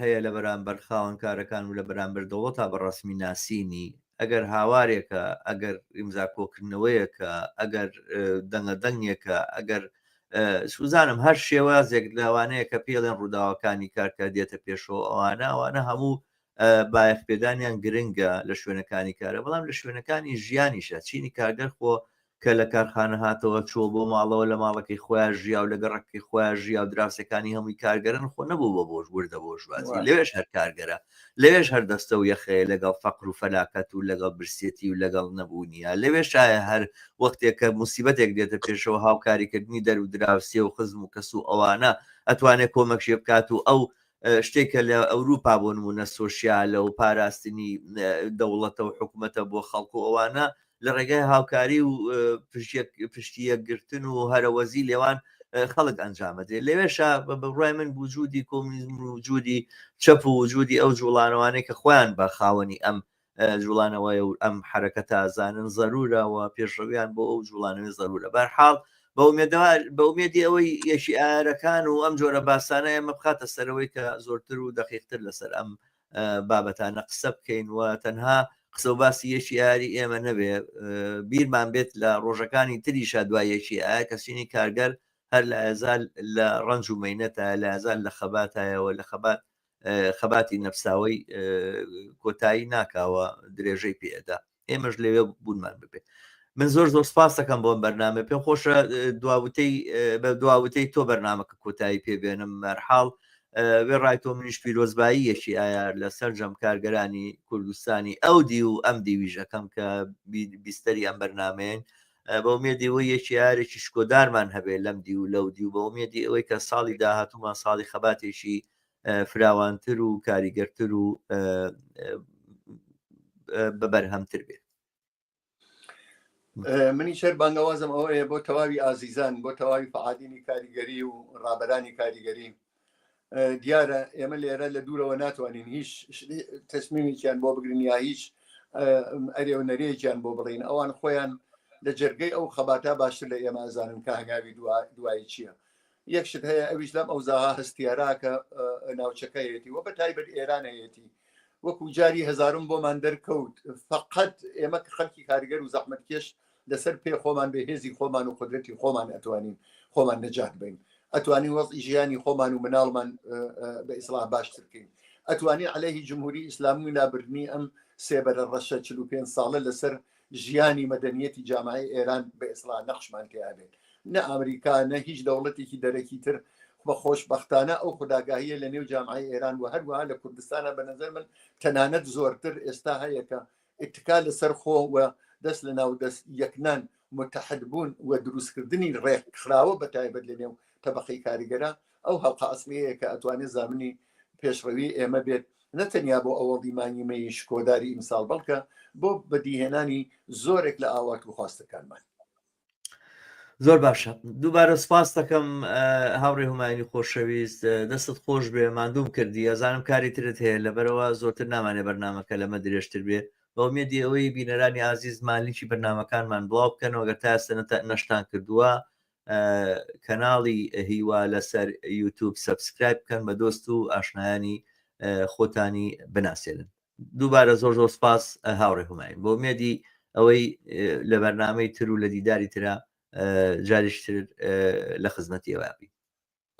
هەیە لە بەرامبەر خاوەن کارەکان و لە بەرامبەر دەوڵەت تا بەڕسمی ناسینی ئەگەر هاوارێکە ئەگەر ئیمزا کۆکردنەوەیەکە ئەگەر دەنگە دەنگێکە ئەگەر سوزانم هەر شێوازێک لاوانەیە کە پێڵێن ڕووداوەکانی کارکە دێتە پێشەوە ئەوانە ئەوانە هەموو بایەخ پێدانیان گرنگە لە شوێنەکانی کارە بەڵام لە شوێنەکانی ژیانیشە چینی کارگەر خۆ کە لە کارخانە هاتەوە چووە بۆ ماڵەوە لە ماڵەکەی خۆیا ژیاو لە گەڕەکەکەی خۆیا ژیاو دراوسێکانی هەمووی کارگەرن خۆ نەبوو بە بۆش وردە بۆرژوازی لەوێش هەر کارگەرە لەوێش هەر دەستە و یەخەیە لەگەڵ فەقر و فەلاکەت و لەگەڵ برسێتی و لەگەڵ نەبوونیە لەوێ شایە هەر وەختێک کە موسیبەتێک دێتە پێشەوە هاوکاریکردنی دەر و دراوسێ و خزم و کەس و ئەوانە ئەتوانێت کۆمەکشێ بکات و ئەو شتێکە لە ئەوروپا بۆ نمونە سۆسیالە و پاراستنی دەوڵەتە و حکوومەتە بۆ خەڵکو ئەوانە لە ڕێگای هاوکاری و پشتی یەکگرتن و هەرەوەزی لێوان خەڵک ئەنجامەدرێ لەوێشا بە بڕای من وجودی کۆمیزم و وجودی چەپ و وجودی ئەو جوڵانەوانەی کە خۆیان بە خاوەنی ئەم جوڵانەوەی و ئەم حرەکە تازانن زەرورەوە پێشڕویان بۆ ئەو جوڵانەوەی زەرورە بەرحاڵ بەمێدەوار بەمێدی ئەوەی یەکی ئارەکان و ئەم جۆرە باسانە ئێمە بخاتە سەرەوەی کە زۆرتر و دەقیقتر لەسەر ئەم بابەتانە قسە بکەین و تەنها قسە و باسی یەکی ئاری ئێمە نەبێ بیرمان بێت لە ڕۆژەکانی تریشا دوای یەکی ئایا کەسینی کارگەر هەر لە ئازال لە ڕنج و مینەتە لە ئازال لە خەباتایەوە لە خەبات خەباتی نەفساوەی کۆتایی ناکاوە درێژەی پێدا ئێمەش لەوێ بوونمان ببێت من زۆر زۆر سپاسەکەم بۆم بەرنامە پێم خۆشە دواوتەی بە دواوتەی تۆ بەرنمەکە کۆتایی پێبێنم مەرحاڵ وێ ڕای تۆ منیش پیرۆزبایی یەکی ئایا لە سەررجەم کارگەرانی کوردستانی ئەو دی و ئەم دیویژەکەم کە بیستری ئەم بەرنمەیەن بە مێدی وە یەکی یارێکی شکۆدارمان هەبێ لەم دی و لەو دی و بە مێدی ئەوەی کە ساڵی داهاتومان ساڵی خەباتێکی فراوانتر و کاریگەرتر و بەبەرهەمتر بێت منی شەر بانگەوازم ئەوەیە بۆ تەواوی ئازیزان بۆ تەواوی فعادینی کاریگەری و ڕابرانی کاریگەری دیارە ئێمە لێرە لە دوورەوە ناتوانین هیچ تەسمیمێکیان بۆ بگرین یا هیچ ئەرێ و نەرێکیان بۆ بڵین ئەوان خۆیان لە جەرگەی ئەو خەباتە باشتر لە ئێمە ئەزانن کە هەنگاوی دوایی چییە یەک شت هەیە ئەویش لەم ئەوزاها هەستیاراکە ناوچەکەیەتی وە بە تایبەت ئێرانەیەتی وەکو جاری هزارم بۆمان دەرکەوت فقط ئێمە خەلکی کارگەر و زەحمت کێش لەسەر پێ خۆمان بێ هێزی خۆمان و قدرەتی خۆمان ئەتوانین خۆمان نەجات بین ئەتوانین وەزی ژیانی خۆمان و مناڵمان بە ئیسلاح باشتر بکەین ئەتوانی عليهەیهی جمهوری ئیسلامی و لابردنی ئەم سێبەرە ڕەشە 45 ساڵە لەسەر ژیانی مەدەنیەتی جامعەی ئێران بە ئیسڵاح نەخشمان تێا بێت، نە ئامریکا، نە هیچ دەوڵەتێکی دەرەکی تر و خۆشبەختانە ئەو خوداگاهیە لە نێو جامعەی ئێران و هەروەها لە کوردستانا بە نەزەر من تەنانەت زۆرتر ئێستا هەیە کە ئیتکا لە سەر خۆ و دەست لە ناو دەست یەکنان، متحد بوون و دروست کردنی ڕێکخراوە بە تایبەت لە نێو تەبەقەی کاریگەرا، ئەو هەڵقە ئەسڵیەیە کە ئەتوانێت زامنی پێشڕەوی ئێمە بێت نە تەنیا بۆ ئەوەڵی مانگی مەیی شکۆداری ئیمساڵ بەڵکە بۆ بەدیهێنانی زۆرێک لە ئاوات و خواستەکانمان زۆر باشە دووبارە سپاس دەکەم هاوڕێ هومایانی خۆشەویست دەستت خۆش بێ مادووم کردی ئەزانم کاری ترت هەیە لەبەرەوە زۆرتر نامانێ بەرنمەکە لەمە درێژتر بێ بەمێدی ئەوەی بینەرانی ئازیز مالیکی بەرنمەکانمان بڵاو بکەنەوەگە تاسە نەشتان کردووە کەناڵی هیوا لەسەر یوتوب سبسکرایب بکەن بە دۆست و ئاشنایانی خۆتانی بناسێنن دووبارە زۆر زۆر سپاس هاوڕێ هوماین بۆ مێدی ئەوەی لە بەرنمەی تر و لە دیداری تررا جاریشتر لە خزمەتی ئەوابی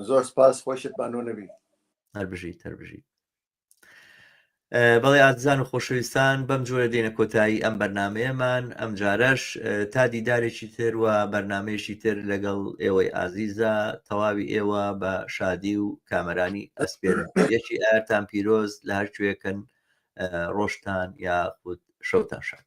زۆر سپاس خۆشت بانۆ نەبی هەر بژی تەربژی بەڵێ ئازیزان و خۆشەویستان بەم جۆرە دێنە کۆتایی ئەم بەرنمەیەمان ئەم جارەش تا دیدارێکی تر و بەرنمەیەشی تر لەگەڵ ئێوەی ئازیزە تەواوی ئێوە بە شادی و کامەرانی ئەسپێر یەکی ئارتان پیرۆز لە هەرکوێکن ڕۆشتان یا خود شەوتان شاد